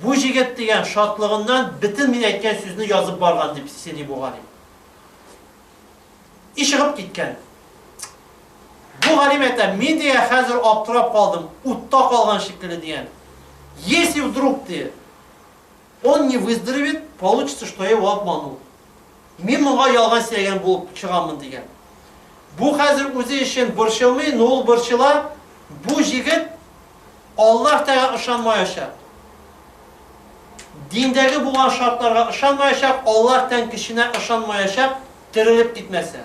Бу җегет дигән шатлыгыннан бөтен мин әйткән сүзне язып барган дип сөйли бу галим. И чыгып киткән. Бу галим әйтә, мин дигән хәзер аптырап калдым, утта калган шикелле дигән. Если вдруг ты он не выздоровеет, получится, что я его обманул. Мин моңа ялган сөйләгән булып чыгамын дигән. Бу хәзер үзе өчен борчылмый, но ул борчыла. Бу җегет Аллаһ тәга ышанмаячак. Диндәге булган шартларга ышанмаячак, Аллаһ тән кешенә ышанмаячак, терелеп китмәсә.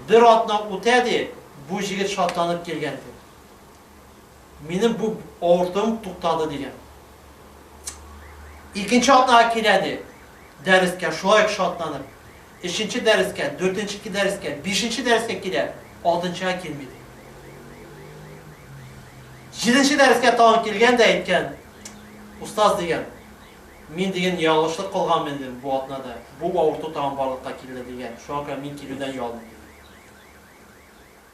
Бер атна үтә, ди, бу җегет шатланып килгән, ди. Минем бу авыртуым туктады, дигән. Икенче атнага килә, ди, дәрескә, шулай ук шатланып. Өченче дәрескә, дүртенчеке дәрескә, бишенче дәрескә килә, алтынчыга килми, ди. Җиденче дәрескә тагын килгән дә әйткән, Устаз, дигән, мин, диген, ялгышлык кылганмын инде бу атнада, бу авырту тагын барлыкка килде, дигән, шуңа күрә мин килүдән ялдым, диген.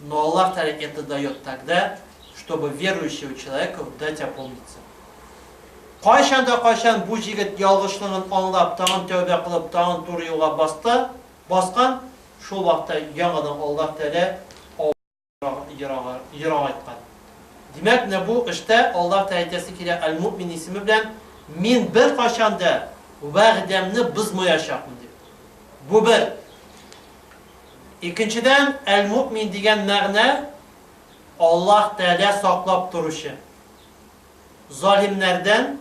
но Аллаһ Тәгалә это дает тогда, чтобы верующего человеку дать опомниться. Кайчан да кайчан бу җегет ялгышлыгын аңлап, тагын тәүбә кылып, тагын туры юлга басты, баскан, шул вакытта яңадан Аллаһ Тәгалә ерак айткан. Димәк, менә бу эштә Аллаһ Тәгалә әйтәсе килә Аль-Муъмин исеме белән мин беркайчан да вәгъдәмне бозмаячакмын дип. Бу бер Икенчедән, әл-муэмин дигән мәгънә, Аллаһ Тәгалә саклап торучы, залимнәрдән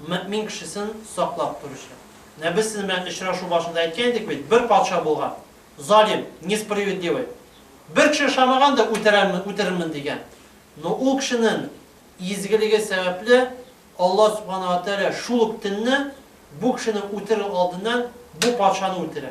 мөэмин кешесен саклап торучы. Менә без сезнең белән очрашу башында әйткән идек бит, бер патша булган, залим, несправедливый. Бер кеше ошамаган да үтерәмен, үтерермен дигән. Но ул кешенең изгелеге сәбәпле, Аллаһ Субхана ва Тәгалә шул ук төнне бу кешене үтерү алдыннан бу патшаны үтерә.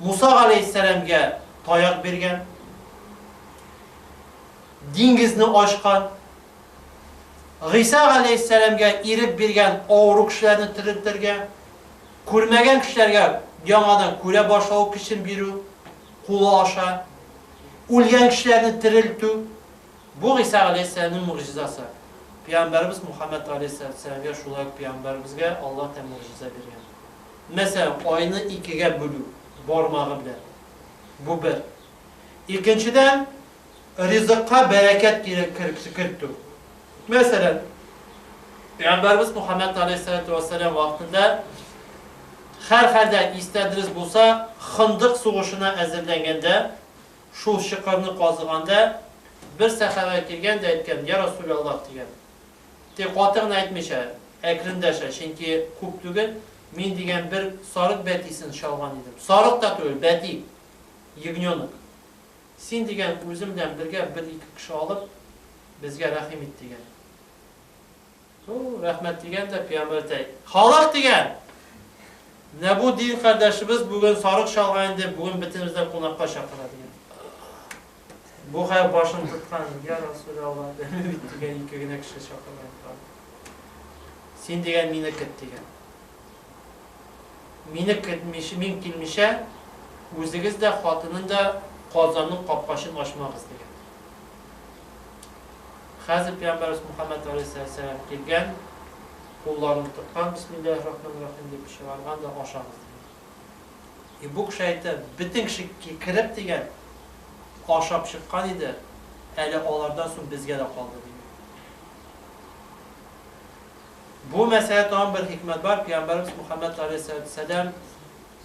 Муса галәйһиссәламгә таяк биргән, диңгезне ачкан, Гыйса галәйһиссәламгә ирек биргән авыру кешеләрне терелтергә, күрмәгән кешеләргә яңадан күрә башлау көчен бирү, кулы аша, үлгән кешеләрне терелтү, бу Гыйса галәйһиссәламнең могҗизасы. Пәйгамбәребез Мухаммәд галәйһиссәламгә шулай ук пәйгамбәребезгә Аллаһ тә могҗиза биргән. Мәсәлән, айны икегә бүлү, бармагы белән. Бу бер. Икенчедән, ризыкка бәрәкәт кертү. Мәсәлән, пәйгамбәребез Мөхәммәд галәйһиссәлатү вәссәлам вакытында, һәрхәлдә, истә дөрес булса, Хындык сугышына әзерләнгәндә, шул чокырны казыганда, бер сәхабә килгән дә әйткән, Йә Расүләллаһ! дигән. Тик каты гына әйтмичә, әкрендәшә, чөнки күп түгел, мин дигән бер сарык бәтисен чалган идем. Сарык та түгел, бәти! Ягненок! Син дигән үзем белән бергә бер-ике кеше алып, безгә рәхим ит, дигән. Ту, рәхмәт дигән дә, пиямбәр әйтә, Халык! дигән! Менә бу дин кардәшебез бүген сарык чалган инде, бүген бетенебез дә кунакка чакыра, дигән. Бугай башын тоткан, Йә Расуләлла, белми бит, дигән, ике генә кеше чакырган тагын. Син дигән мине көт, дигән. Мине көтмичә, мин килмичә, үзегез дә, хатынын да Казанның капкачын ачмагыз, дигән. Хәзер пәйгамбәрбез Мухаммәд алейһиссәләм килгән, кулларын тоткан, бисмиллаһир-рахманир-рахим дип чыгарган да ашагыз, дигән. И бу кеше әйтә, бөтен кеше кереп дигән, ашап чыккан иде, әле алардан соң безгә дә калды дигән. Бу мәсьәлә тагын бер хикмәт бар, пәйгамбәрбез Мөхәммәд алейһиссәләм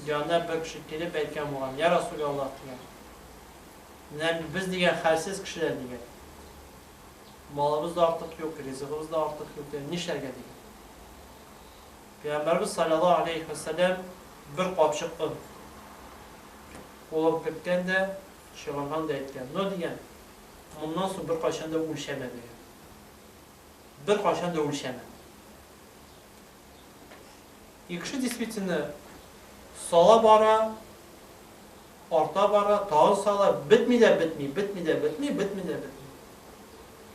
янына бер кеше килеп әйткән булган, я Расул Аллаһ дигән. Менә без дигән хәлсез кешеләр дигән. Малыбыз да артык юк, ризыгыбыз да артык юк, нишләргә дигән. Пәйгамбәрбез салләллаһу аләйһи вә сәлләм бер капчык он кулын керткән дә, чыгарган да әйткән, Но, дигән, моннан соң беркайчан да үлчәмә, дигән. Беркайчан да үлчәмә. И кеше действительно сала бара, Арта бара, тагын сала, бетми дә бетми, бетми дә бетми, бетми дә бетми.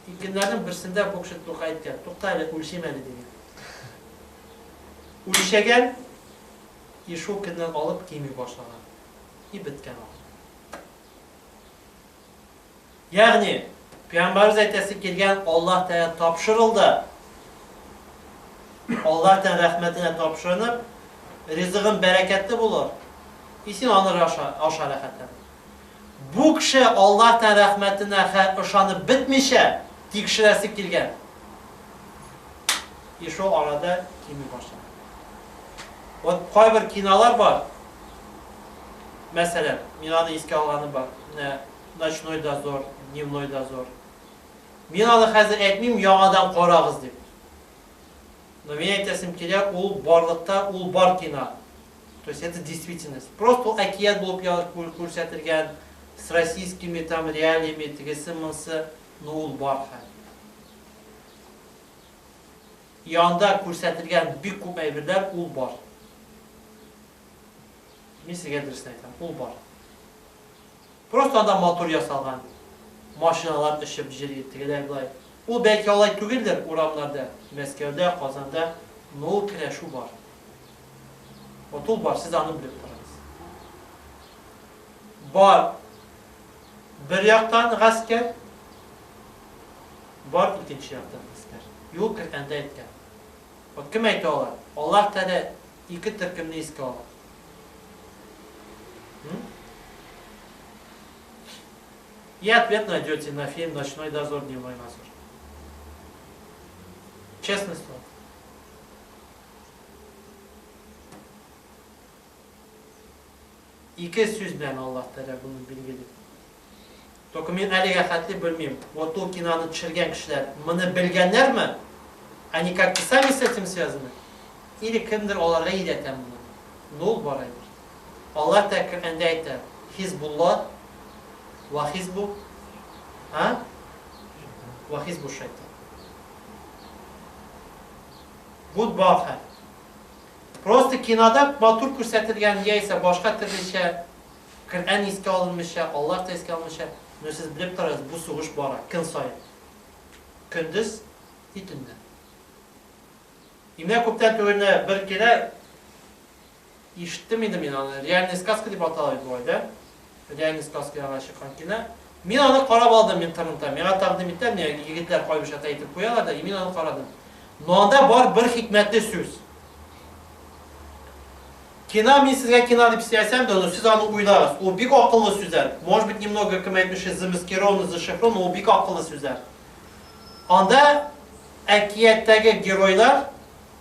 Тик көннәрнең берсендә бу кеше Тукай әйткән, тукта әле, үлчим әле, дигән. Үлчәгән, и шул көннән алып кими башлаган. И беткән ул. Ягъни, пәйгамбәребез әйтәсе килгән Аллаһ Тәгалә тапшырылды. Аллаһ Тәгалә рәхмәтенә тапшырынып, ризыгың бәрәкәтле булыр. И син аны аша, аша рәхәтләнеп. Бу кеше Аллаһ Тәгалә рәхмәтенә ышанып бетмичә, тикшерәсе килгән. И шул арада кими башлады. Вот кайбер кинолар бар. Мәсәлән, мин аны искә алганым бар, менә Ночной дозор, Дневной дозор. Мин аны хәзер әйтмим, яңадан карагыз дип. Но мин әйтәсем килә, ул барлыкта ул бар кино. То есть это действительность. Просто ул әкият булып күрсәтелгән с российскими там реалиями тегесе монсы, но ул бар хәзер. Янда күрсәтелгән бик күп әйберләр ул бар. Мин сезгә дөресен әйтәм, ул бар. Просто анда матур ясалган, машиналар очып җөри, тегеләй-болай. Ул бәлки алай түгелдер урамнарда, Мәскәүдә, Казанда, но ул керәшү бар. Вот ул бар, сез аны белеп торыгыз. Бар. Бер яктан гаскәр, бар икенче яктан гаскәр. Юк, Коръәндә әйткән. Вот кем әйтә ала? Аллаһ Тәгалә ике төркемне искә ала. И ответ найдете на фильм «Ночной дозор. Дневной дозор». Честное слово. Ике сүз белән Аллаһ Тәгалә моны билгели. Только мин әлегә хәтле белмим, вот ул киноны төшергән кешеләр моны белгәннәрме? Они как-то сами с этим связаны? Или кемдер аларга өйрәтә моны? Ну, бар әйбер. Аллаһ Тәгалә Коръәндә әйтә, Хизбулла ва хизбу а? Ва хизбу шайтан. Будь бахар. Просто кинода матур күрсәтелгән яисә башка төрлечә, Коръән искә алынмыйча, Аллаһ та искә алынмыйча, ну сез белеп торыгыз, бу сугыш бара, көн саен. Көндез и төннән. И менә күптән түгел генә бер килә, ишеттем инде мин аны, реальная сказка дип атала бит бу, дә? Леонид Спасскига чыккан кино. Мин аны карап алдым интернетта. Миңа тәкъдим иттеләр, менә егетләр кайберчә тә әйтеп куялар да, и мин аны карадым. Но анда бар бер хикмәтле сүз. Кина мин сезгә кина дип сөйләсәм дә, но сез аны уйлагыз. Ул бик акыллы сүзләр. Может быть, немного кем әйтмешли, замаскировано, зашифровано, но ул бик акыллы сүзләр. Анда әкияттәге геройлар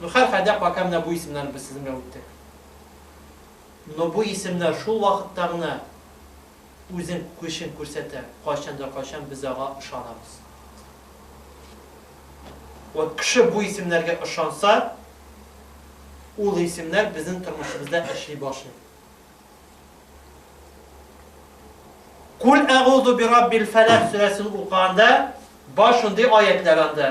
Ну, хәрхәдә, пока менә бу исемнәрне без сезнең белән үттек. Но бу исемнәр шул вакытта гына үзен көчен күрсәтә, кайчан да кайчан без ага ышанабыз. Вот кеше бу исемнәргә ышанса, ул исемнәр безнең тормышыбызда эшли башлый. Кул әгуду би раббил фәләк сүрәсен укыганда бар шундый аятлар анда.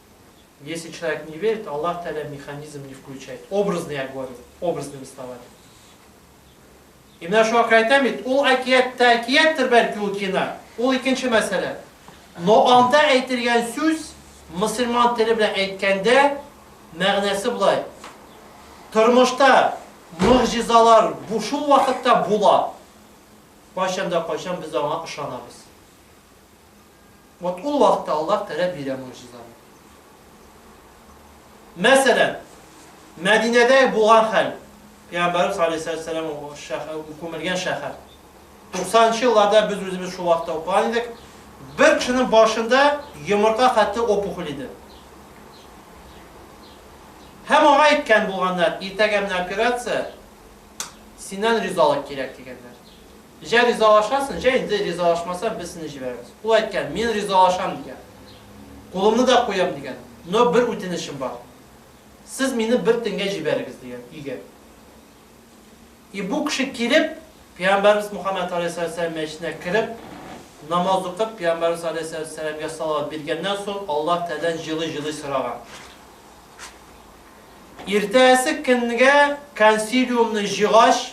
Если человек не верит, Аллах Тааля механизм не включает. Образный я говорю, образными словами. И менә шуңа күрә әйтәм бит, ул әкият тә әкияттер бәлки ул кино. Ул икенче мәсьәлә. Но анда әйтелгән сүз мусульман теле белән әйткәндә мәгънәсе болай. Тормышта мөгъҗизалар бу шул вакытта була. Кайчанда кайчан без аңа ышанабыз. Вот ул вакытта Аллаһ Тәгалә бирә могҗизаны. Мәсәлән, Мәдинәдә булган хәл, Пәйгамбәрбез алейһиссалату вассалам күмелгән шәһәр. 90 нчы елларда без үзебез шул вакытта укыган идек. Бер кешенең башында йомырка хәтле опухоль иде. Һәм аңа әйткән булганнар, иртәгә менә операция, синнән ризалык кирәк дигәннәр. Җә ризалашасың, җә инде ризалашмасаң, без сине җибәрәбез. Ул әйткән, мин ризалашам, дигән. Кулымны да куям, дигән. Но бер үтенечем бар. Сез мине бер төнгә җибәрегез, дигән, өйгә. И бу кеше килеп, Пәйгамбәрбез Мухаммәд алейһиссәләм мәчетенә кереп, намаз укып, Пәйгамбәрбез алейһиссәләмгә салават биргәннән соң, Аллаһ Тәгаләдән җылый-җылый сораган. Иртәсе көнгә консилиумны җыйгач,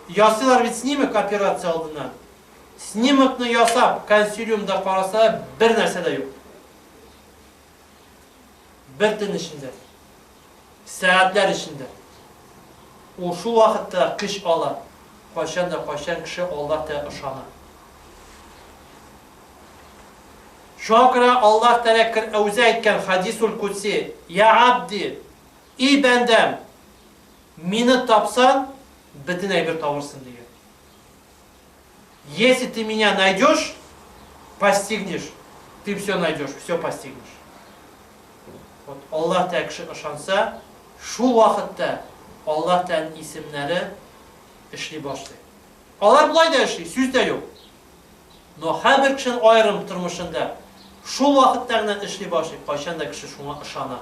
Ясыйлар бит снимок операция алдына. Снимокны ясап, консилиумда караса, бер нәрсә дә юк. Бер төн эчендә. Сәгатьләр эчендә. Ул шул вакытта көч ала. Кайчан да кайчан кеше Аллаһ Тәгалә ышана. Шуңа күрә Аллаһ Тәгалә Әүзә әйткән хадисул кудси, "Я абди, И бәндәм! Мине тапсаң, бөтен әйбер табырсын, дигән. Если ты меня найдешь, постигнешь, ты все найдешь, все постигнешь. Вот Аллаһ Тәгалә кеше ышанса, шул вакытта Аллаһ Тәгаләнең исемнәре эшли башлый. Алар болай да эшли, сүз дә юк. Но һәрбер кешенең аерым тормышында шул вакытта гына эшли башлый, кайчан да кеше шуңа ышана.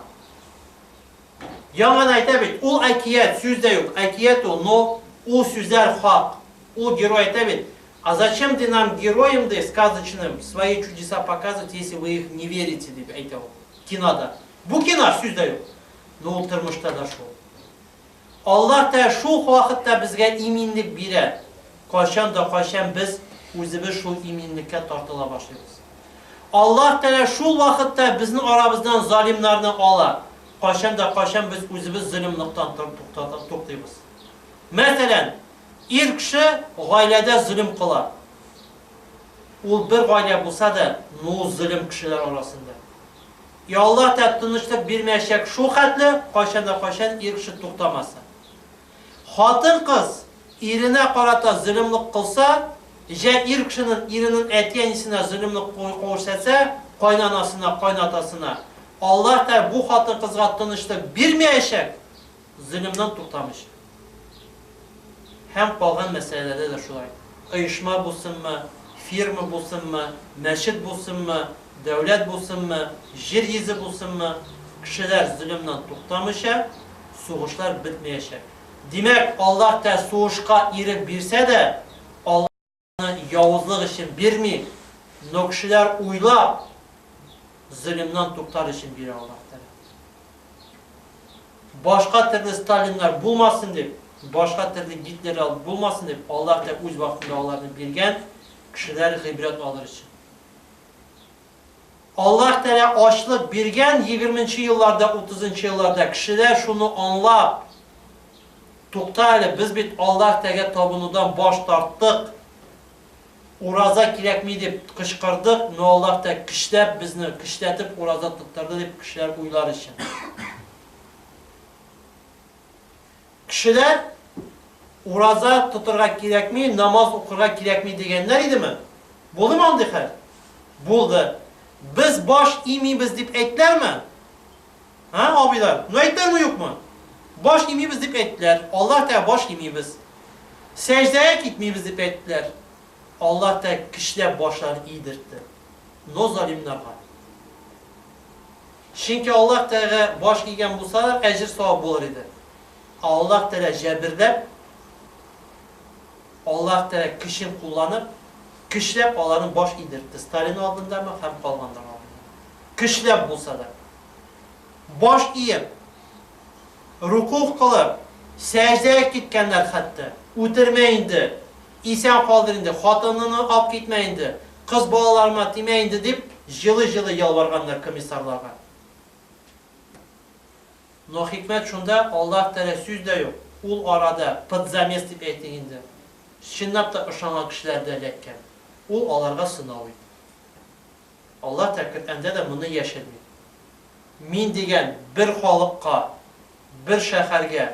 Яңа да әйтә бит, ул әкият, сүз дә юк, әкият ул, но ул сүзләр хак. Ул герой әйтә бит, А зачем ты нам героям ди сказочным свои чудеса показывать, если вы их не верите, дип әйтә ул кинода. Бу кино, сүз дә юк, но ул тормышта да шул. Аллаһ та шул ук вакытта безгә иминлек бирә, кайчан да кайчан без үзебез шул иминлеккә тартыла башлыйбыз. Аллаһ Тәгалә шул вакытта безнең арабыздан залимнарны ала, кайчан да кайчан без үзебез зөлемлыктан туктыйбыз. Мәсәлән, ир кеше гаиләдә зөлем кыла. Ул бер гаилә булса да, ну, зөлем кешеләр арасында. Ялла тәп тынычлык бирмәячәк шул хәтле, кайчан да кайчан ир кеше туктамаса. Хатын-кыз иренә карата зөлемлек кылса, җә ир кешенең иренең әти-әнисенә зөлемлек куүрсәтсә, кайнанасына, кайнатасына, Аллаһ Тәгалә бу хатын-кызга тынычлык бирмәячәк, Зыгыннан туктамыйча. Һәм калган мәсьәләләрдә дә шулай. Оешма булсынмы, фирма булсынмы, мәчет булсынмы, дәүләт булсынмы, җир йөзе булсынмы, кешеләр зыгыннан туктамыйча, сугышлар бетмәячәк. Димәк, Аллаһ тә сугышка ирек бирсә дә, Аллаһ. Аны явызлык өчен бирми, но кешеләр уйлап, зөлемнан туктар өчен бирә Аллаһ Тәгалә. Башка төрле Сталиннар булмасын дип, башка төрле Гитлерлар булмасын дип, Аллаһ Тәгалә үз вакытында аларны биргән, кешеләр гыйбрәт алыр өчен. Аллаһ Тәгалә ачлык биргән егерменче елларда, утызынчы елларда кешеләр шуны аңлап, Тукта әле, без бит Аллаһ Тәгаләгә табынудан баш тарттык, ураза кирәкми дип кычкырдык, но Аллаһ Тәгалә көчләп безне, көчләтеп ураза тоттырды дип кешеләр уйлар өчен. Кешеләр, Ураза тотырга кирәкми, намаз укырга кирәкми дигәннәр идеме? Булдымы андый хәл? Булды. Без баш имибез дип әйттеләрме? Ә, абыйлар, ну әйттеләрме, юкмы? Баш имибез дип әйттеләр. Аллаһ Тәгалә баш имибез. Сәҗдәгә китмибез дип әйттеләр. Аллаһ Тәгалә кешеләр башларын идертте. Но залимнарга. Чөнки Аллаһ Тәга баш игән булсалар, әҗер-савап булыр иде. Ә Аллаһ Тәга җәберләп, Аллаһ Тәга көчен кулланып, көчләп аларның баш идертте, Сталин алдындамы һәм калганнар алдында. Көчләп булса да. Баш иеп, рукух кылып, сәҗдә киткәннәр хәтта. Үтермә инде, Исән калдыр инде, хатыныңны ап китмә инде, кыз балаларыма тимә инде, дип җылый-җылый ялварганнар комиссарларга. Но хикмәт шунда, Аллаһ Тәгалә сүз дә юк, ул арада, под замес дип әйтик инде, чынлап та ышанган кешеләр дә эләккән. Ул аларга сынау иде. Аллаһ Тәгалә Коръәндә дә моны яшерми. Мин дигән бер халыкка, бер шәһәргә.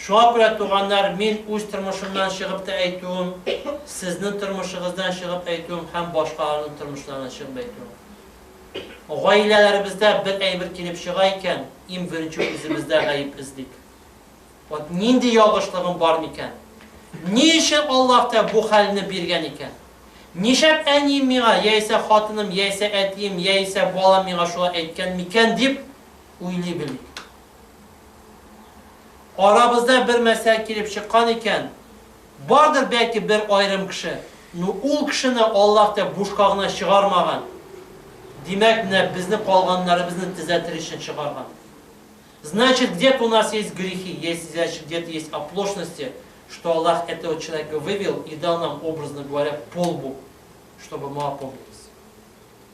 Шуңа күрә, туганнар, мин үз тормышымнан чыгып та әйтүем, сезнең тормышыгыздан чыгып әйтүем һәм башкаларның тормышларыннан чыгып әйтүем. Гаиләләребездә бер әйбер килеп чыга икән, им беренче үзебездә гаеп эзлик. Вот нинди ялгышлыгым бар микән? Ни өчен Аллаһ та бу хәлне биргән икән? Нишәп әнием миңа, яисә хатыным, яисә әтием, яисә балам миңа шулай әйткән микән дип уйлый белик. Арабызда бер мәсьәлә килеп чыккан икән, бардыр бәлки бер аерым кеше, ну, ул кешене Аллаһ тә бушка гына чыгармаган, димәк, менә безне калганнарыбызны төзәтер өчен чыгарган. Значит, где-то у нас есть грехи, есть, значит, где-то есть оплошности, что Аллаһ этого человека вывел и дал нам, образно говоря, по лбу, чтобы мы опомнились.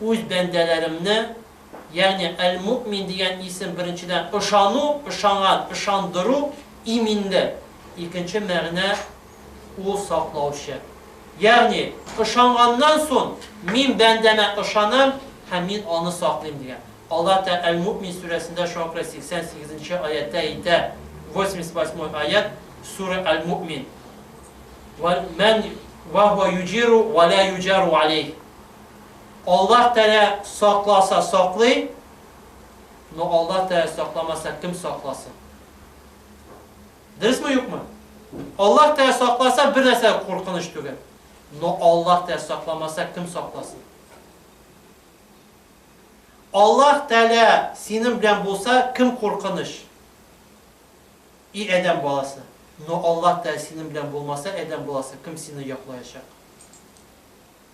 Үз бәндәләремне, ягъни әл-Муэмин дигән исем беренчедән ышану, ышанган, ышандыру, иминле, икенче мәгънә ул саклаучы. Ягъни, ышанганнан сон, мин бәндәмә ышанам һәм мин аны саклыйм дигән. Аллаһ Тә әл-Муэмин сүрәсендә шуңа күрә 88 нче аятьтә әйтә, 88 ой аять, Сүрә әл-Муэмин. Вә мэн вә һуә юҗиру вә лә юҗару алейһ. Аллаһ Тәгалә сакласа саклый, но Аллаһ Тәгалә сакламаса кем сакласын? Дөресме юкмы? Аллаһ Тәгалә сакласа бер нәрсә дә куркыныч түгел, но Аллаһ Тәгалә сакламаса кем сакласын? Аллаһ Тәгалә синең белән булса кем куркыныч? И Адәм баласы, но Аллаһ Тәгалә синең белән булмаса Адәм баласы кем сине яклаячак?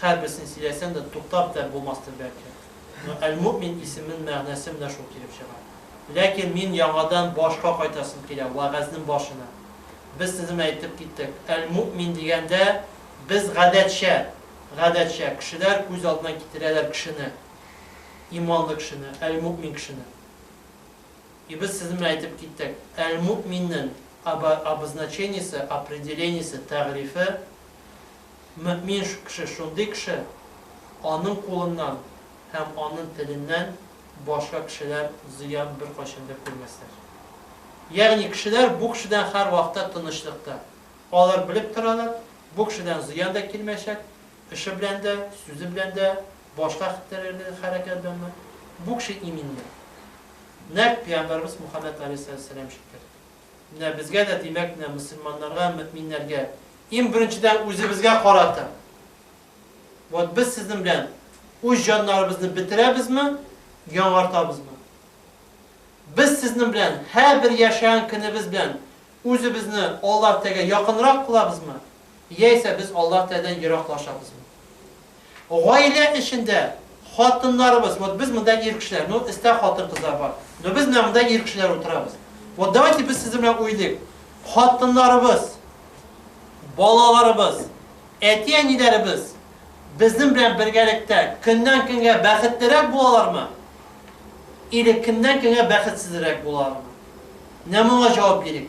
Һәрберсен сөйләсәң дә, туктап дә булмастыр бәлки. Но Әл-Муэмин исемен мәгънәсе менә шул килеп чыга. Ләкин мин яңадан башка кайтасым килә, вәгазьнен башына. Без сезнең әйтеп киттек, Әл-Муэмин дигәндә, без гадәтчә, гадәтчә, кешеләр күз алдына китерәләр кешене, иманлы кешене, Әл-Муэмин кешене. И без сезнең әйтеп киттек, Әл-Муэминнен об обозначениесе, определениесе, тәгърифе, Мөэмин кеше шундый кеше, аның кулыннан һәм аның теленнән башка кешеләр зыян беркайчан да күрмәсләр. Ягъни кешеләр бу кешедән һәрвакытта тынычлыкта. Алар белеп торалар, бу кешедән зыян да килмәячәк, эше белән дә, сүзе белән дә, башка хәтерләре хәрәкәт белән дә. Бу кеше иминлек. Нәкъ пәйгамбәребез Мухаммәд галәйһиссәләм җиткерде. Менә безгә дә, димәк, менә мөселманнарга, мөэминнәргә, иң беренчедән үзебезгә карата, вот без сезнең белән үз җаннарыбызны бетерәбезме, яңартабызмы? Без сезнең белән һәрбер яшәгән көнебез белән үзебезне Аллаһ Тәгаләгә якынрак кылабызмы, яисә без Аллаһ Тәгаләдән ераклашабызмы? Гаилә эчендә хатыннарыбыз, вот без монда ир кешеләр, ну эстә хатын-кызлар бар, но без менә монда ир кешеләр утырабыз. Вот давайте без сезнең белән уйлыйк. Хатыннарыбыз, балаларыбыз, әти-әниләребез безнең белән бергәлектә көннән-көнгә бәхетлерәк булалармы? Или көннән-көнгә бәхетсезрәк булалармы? Менә моңа җавап бирик.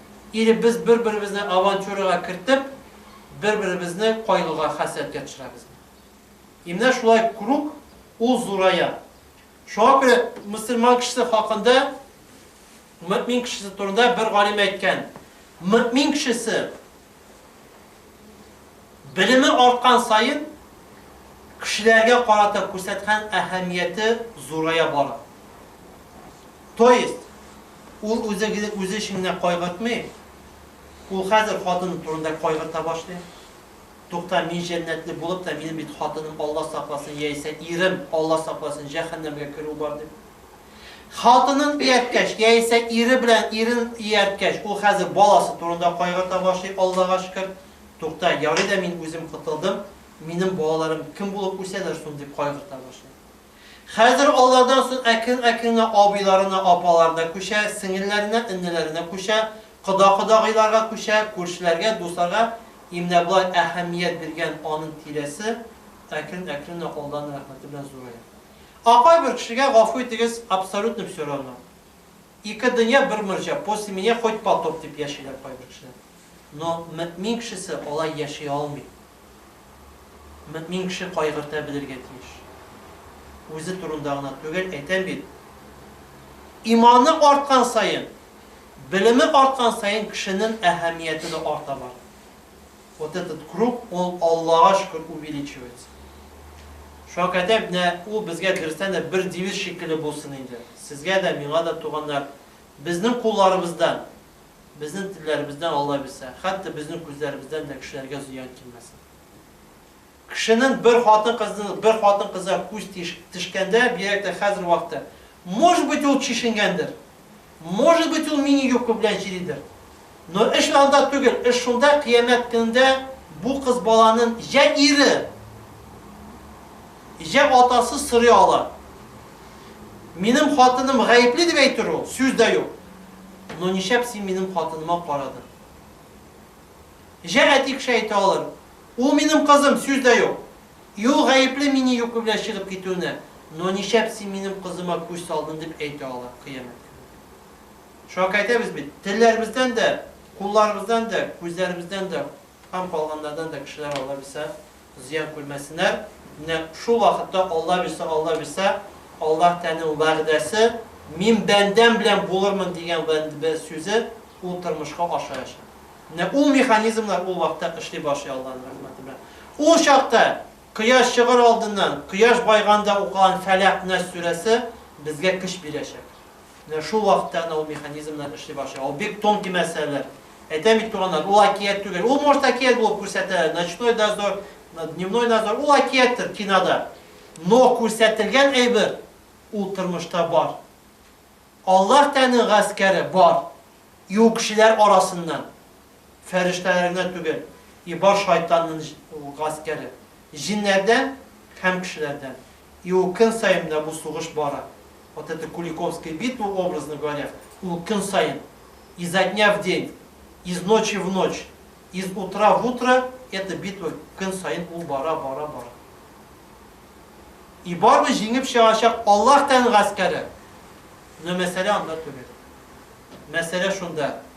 Или без бер-беребезне авантюрага кертеп, бер-беребезне кайгыга, хәсрәткә төшерәбезме? И менә шулай круг, ул зурая. Шуңа күрә мөселман кешесе хакында, мөэмин кешесе турында бер галим әйткән, мөэмин кешесе, Белеме арткан саен, кешеләргә карата күрсәткән әһәмияте зурая бара. То есть, ул үзе генә үзе өчен генә кайгыртмый, ул хәзер хатыны турында кайгырта башлый. Тукта, мин җәннәтле булып та, минем бит хатыным Алла сакласын, яисә ирем Алла сакласын, җәһәннәмгә керү бар дип. Хатынын иярткәч, яисә ире белән ирен иярткәч, ул хәзер баласы турында кайгырта башлый, Алдага шөкер. Тукта, ярый да мин үзем котылдым, минем балаларым кем булып үсәләр сон дип кайгырта башлый. Хәзер алардан сон әкрен-әкрен генә абыйларына, апаларына күчә, сеңелләренә, эннеләренә күчә, кода-кодагыйларга күчә, күршеләргә, дусларга, и менә болай әһәмият биргән анын тирәсе әкрен-әкрен генә Алданың рәхмәте белән зурая. Апай бер кешегә гафу итегез абсолютно все равно. Ике дөнья бер морҗа, после меня хоть потоп дип яшиләр кайбер кешеләр. Но мөэмин кешесе алай яши алмый. Мөэмин кеше кайгырта белергә тиеш. Үзе турында гына түгел, әйтәм бит, иманы арткан саен, белеме арткан саен кешенен әһәмияте дә арта бара. Вот этот круг ул Аллага шөкер увеличивается. Шуңа кадәр менә ул безгә дөрестән дә бер девиз шикелле булсын инде. Сезгә дә, миңа да туганнар, безнең кулларыбыздан, безнең телләребездән Алла бирсә, хәтта безнең күзләребездән дә кешеләргә зыян килмәсен. Кешенең бер хатын-кызны бер хатын-кызга күз тиш тешкәндә, бигрәк тә хәзер вакыты, может быть, ул чишенгәндер, может быть, ул мини-юбка белән җиридер. Но эш анда түгел, эш шунда, кыямәт көнендә бу кыз баланын җә ире, җә атасы сорый ала. Минем хатыным гаепле дип әйтер ул, сүз дә юк. Но ничәп син минем хатыныма карадың? Җә әтик шәйталым! Ул минем кызым, сүз дә юк! И ул гаепле мине йоклы белән чыгып китүенә, но ничәп син минем кызыма күз салдын дип әйтә ала, кыямәт көнне. Шуңа күрә әйтәбез бит, телләребездән дә, кулларыбыздан дә, күзләребездән дә һәм калганнардан да кешеләр алла белсә Зыян күрмәсеннәр. Менә шул вакытта Алла бирсә, Алла бирсә, Аллаһ Тәгаләнең вәгъдәсе, Мин бәндәм белән булырмын дигән вәнде сүзе, ул тормышка ашаячак. Менә ул механизмнар ул вакытта эшли башлый Аллаһның рәхмәте белән. Ул чакта кояш чыгыр алдыннан, кояш байганда укыган Фәләкъ-Нәс сүрәсе безгә көч бирәчәк. Менә шул вакытта гына ул механизмнар эшли башлый. Ул бик тонкий мәсьәләләр. Әйтәм бит, туганнар, ул әкият түгел. Ул может әкият булып күрсәтә, ночной дозор, дневной дозор, ул әкияттер кинода. Но күрсәтелгән әйбер ул тормышта бар. Аллаһ Тәне гаскәре бар. И ул кешеләр арасыннан. Фәрештәләр генә түгел, и бар шайтанның гаскәре, җиннәрдән һәм кешеләрдән. И ул көн саен менә бу сугыш бара. Вот эта Куликовская битва, образно говоря, ул көн саен, изо дня в день, из ночи в ночь, из утра в утро эта битва көн саен ул бара, бара, бара. И барыбер җиңеп чыгачак Аллаһ Тәгаләнең гаскәре. Но мәсьәлә анда түгел. Мәсьәлә шунда,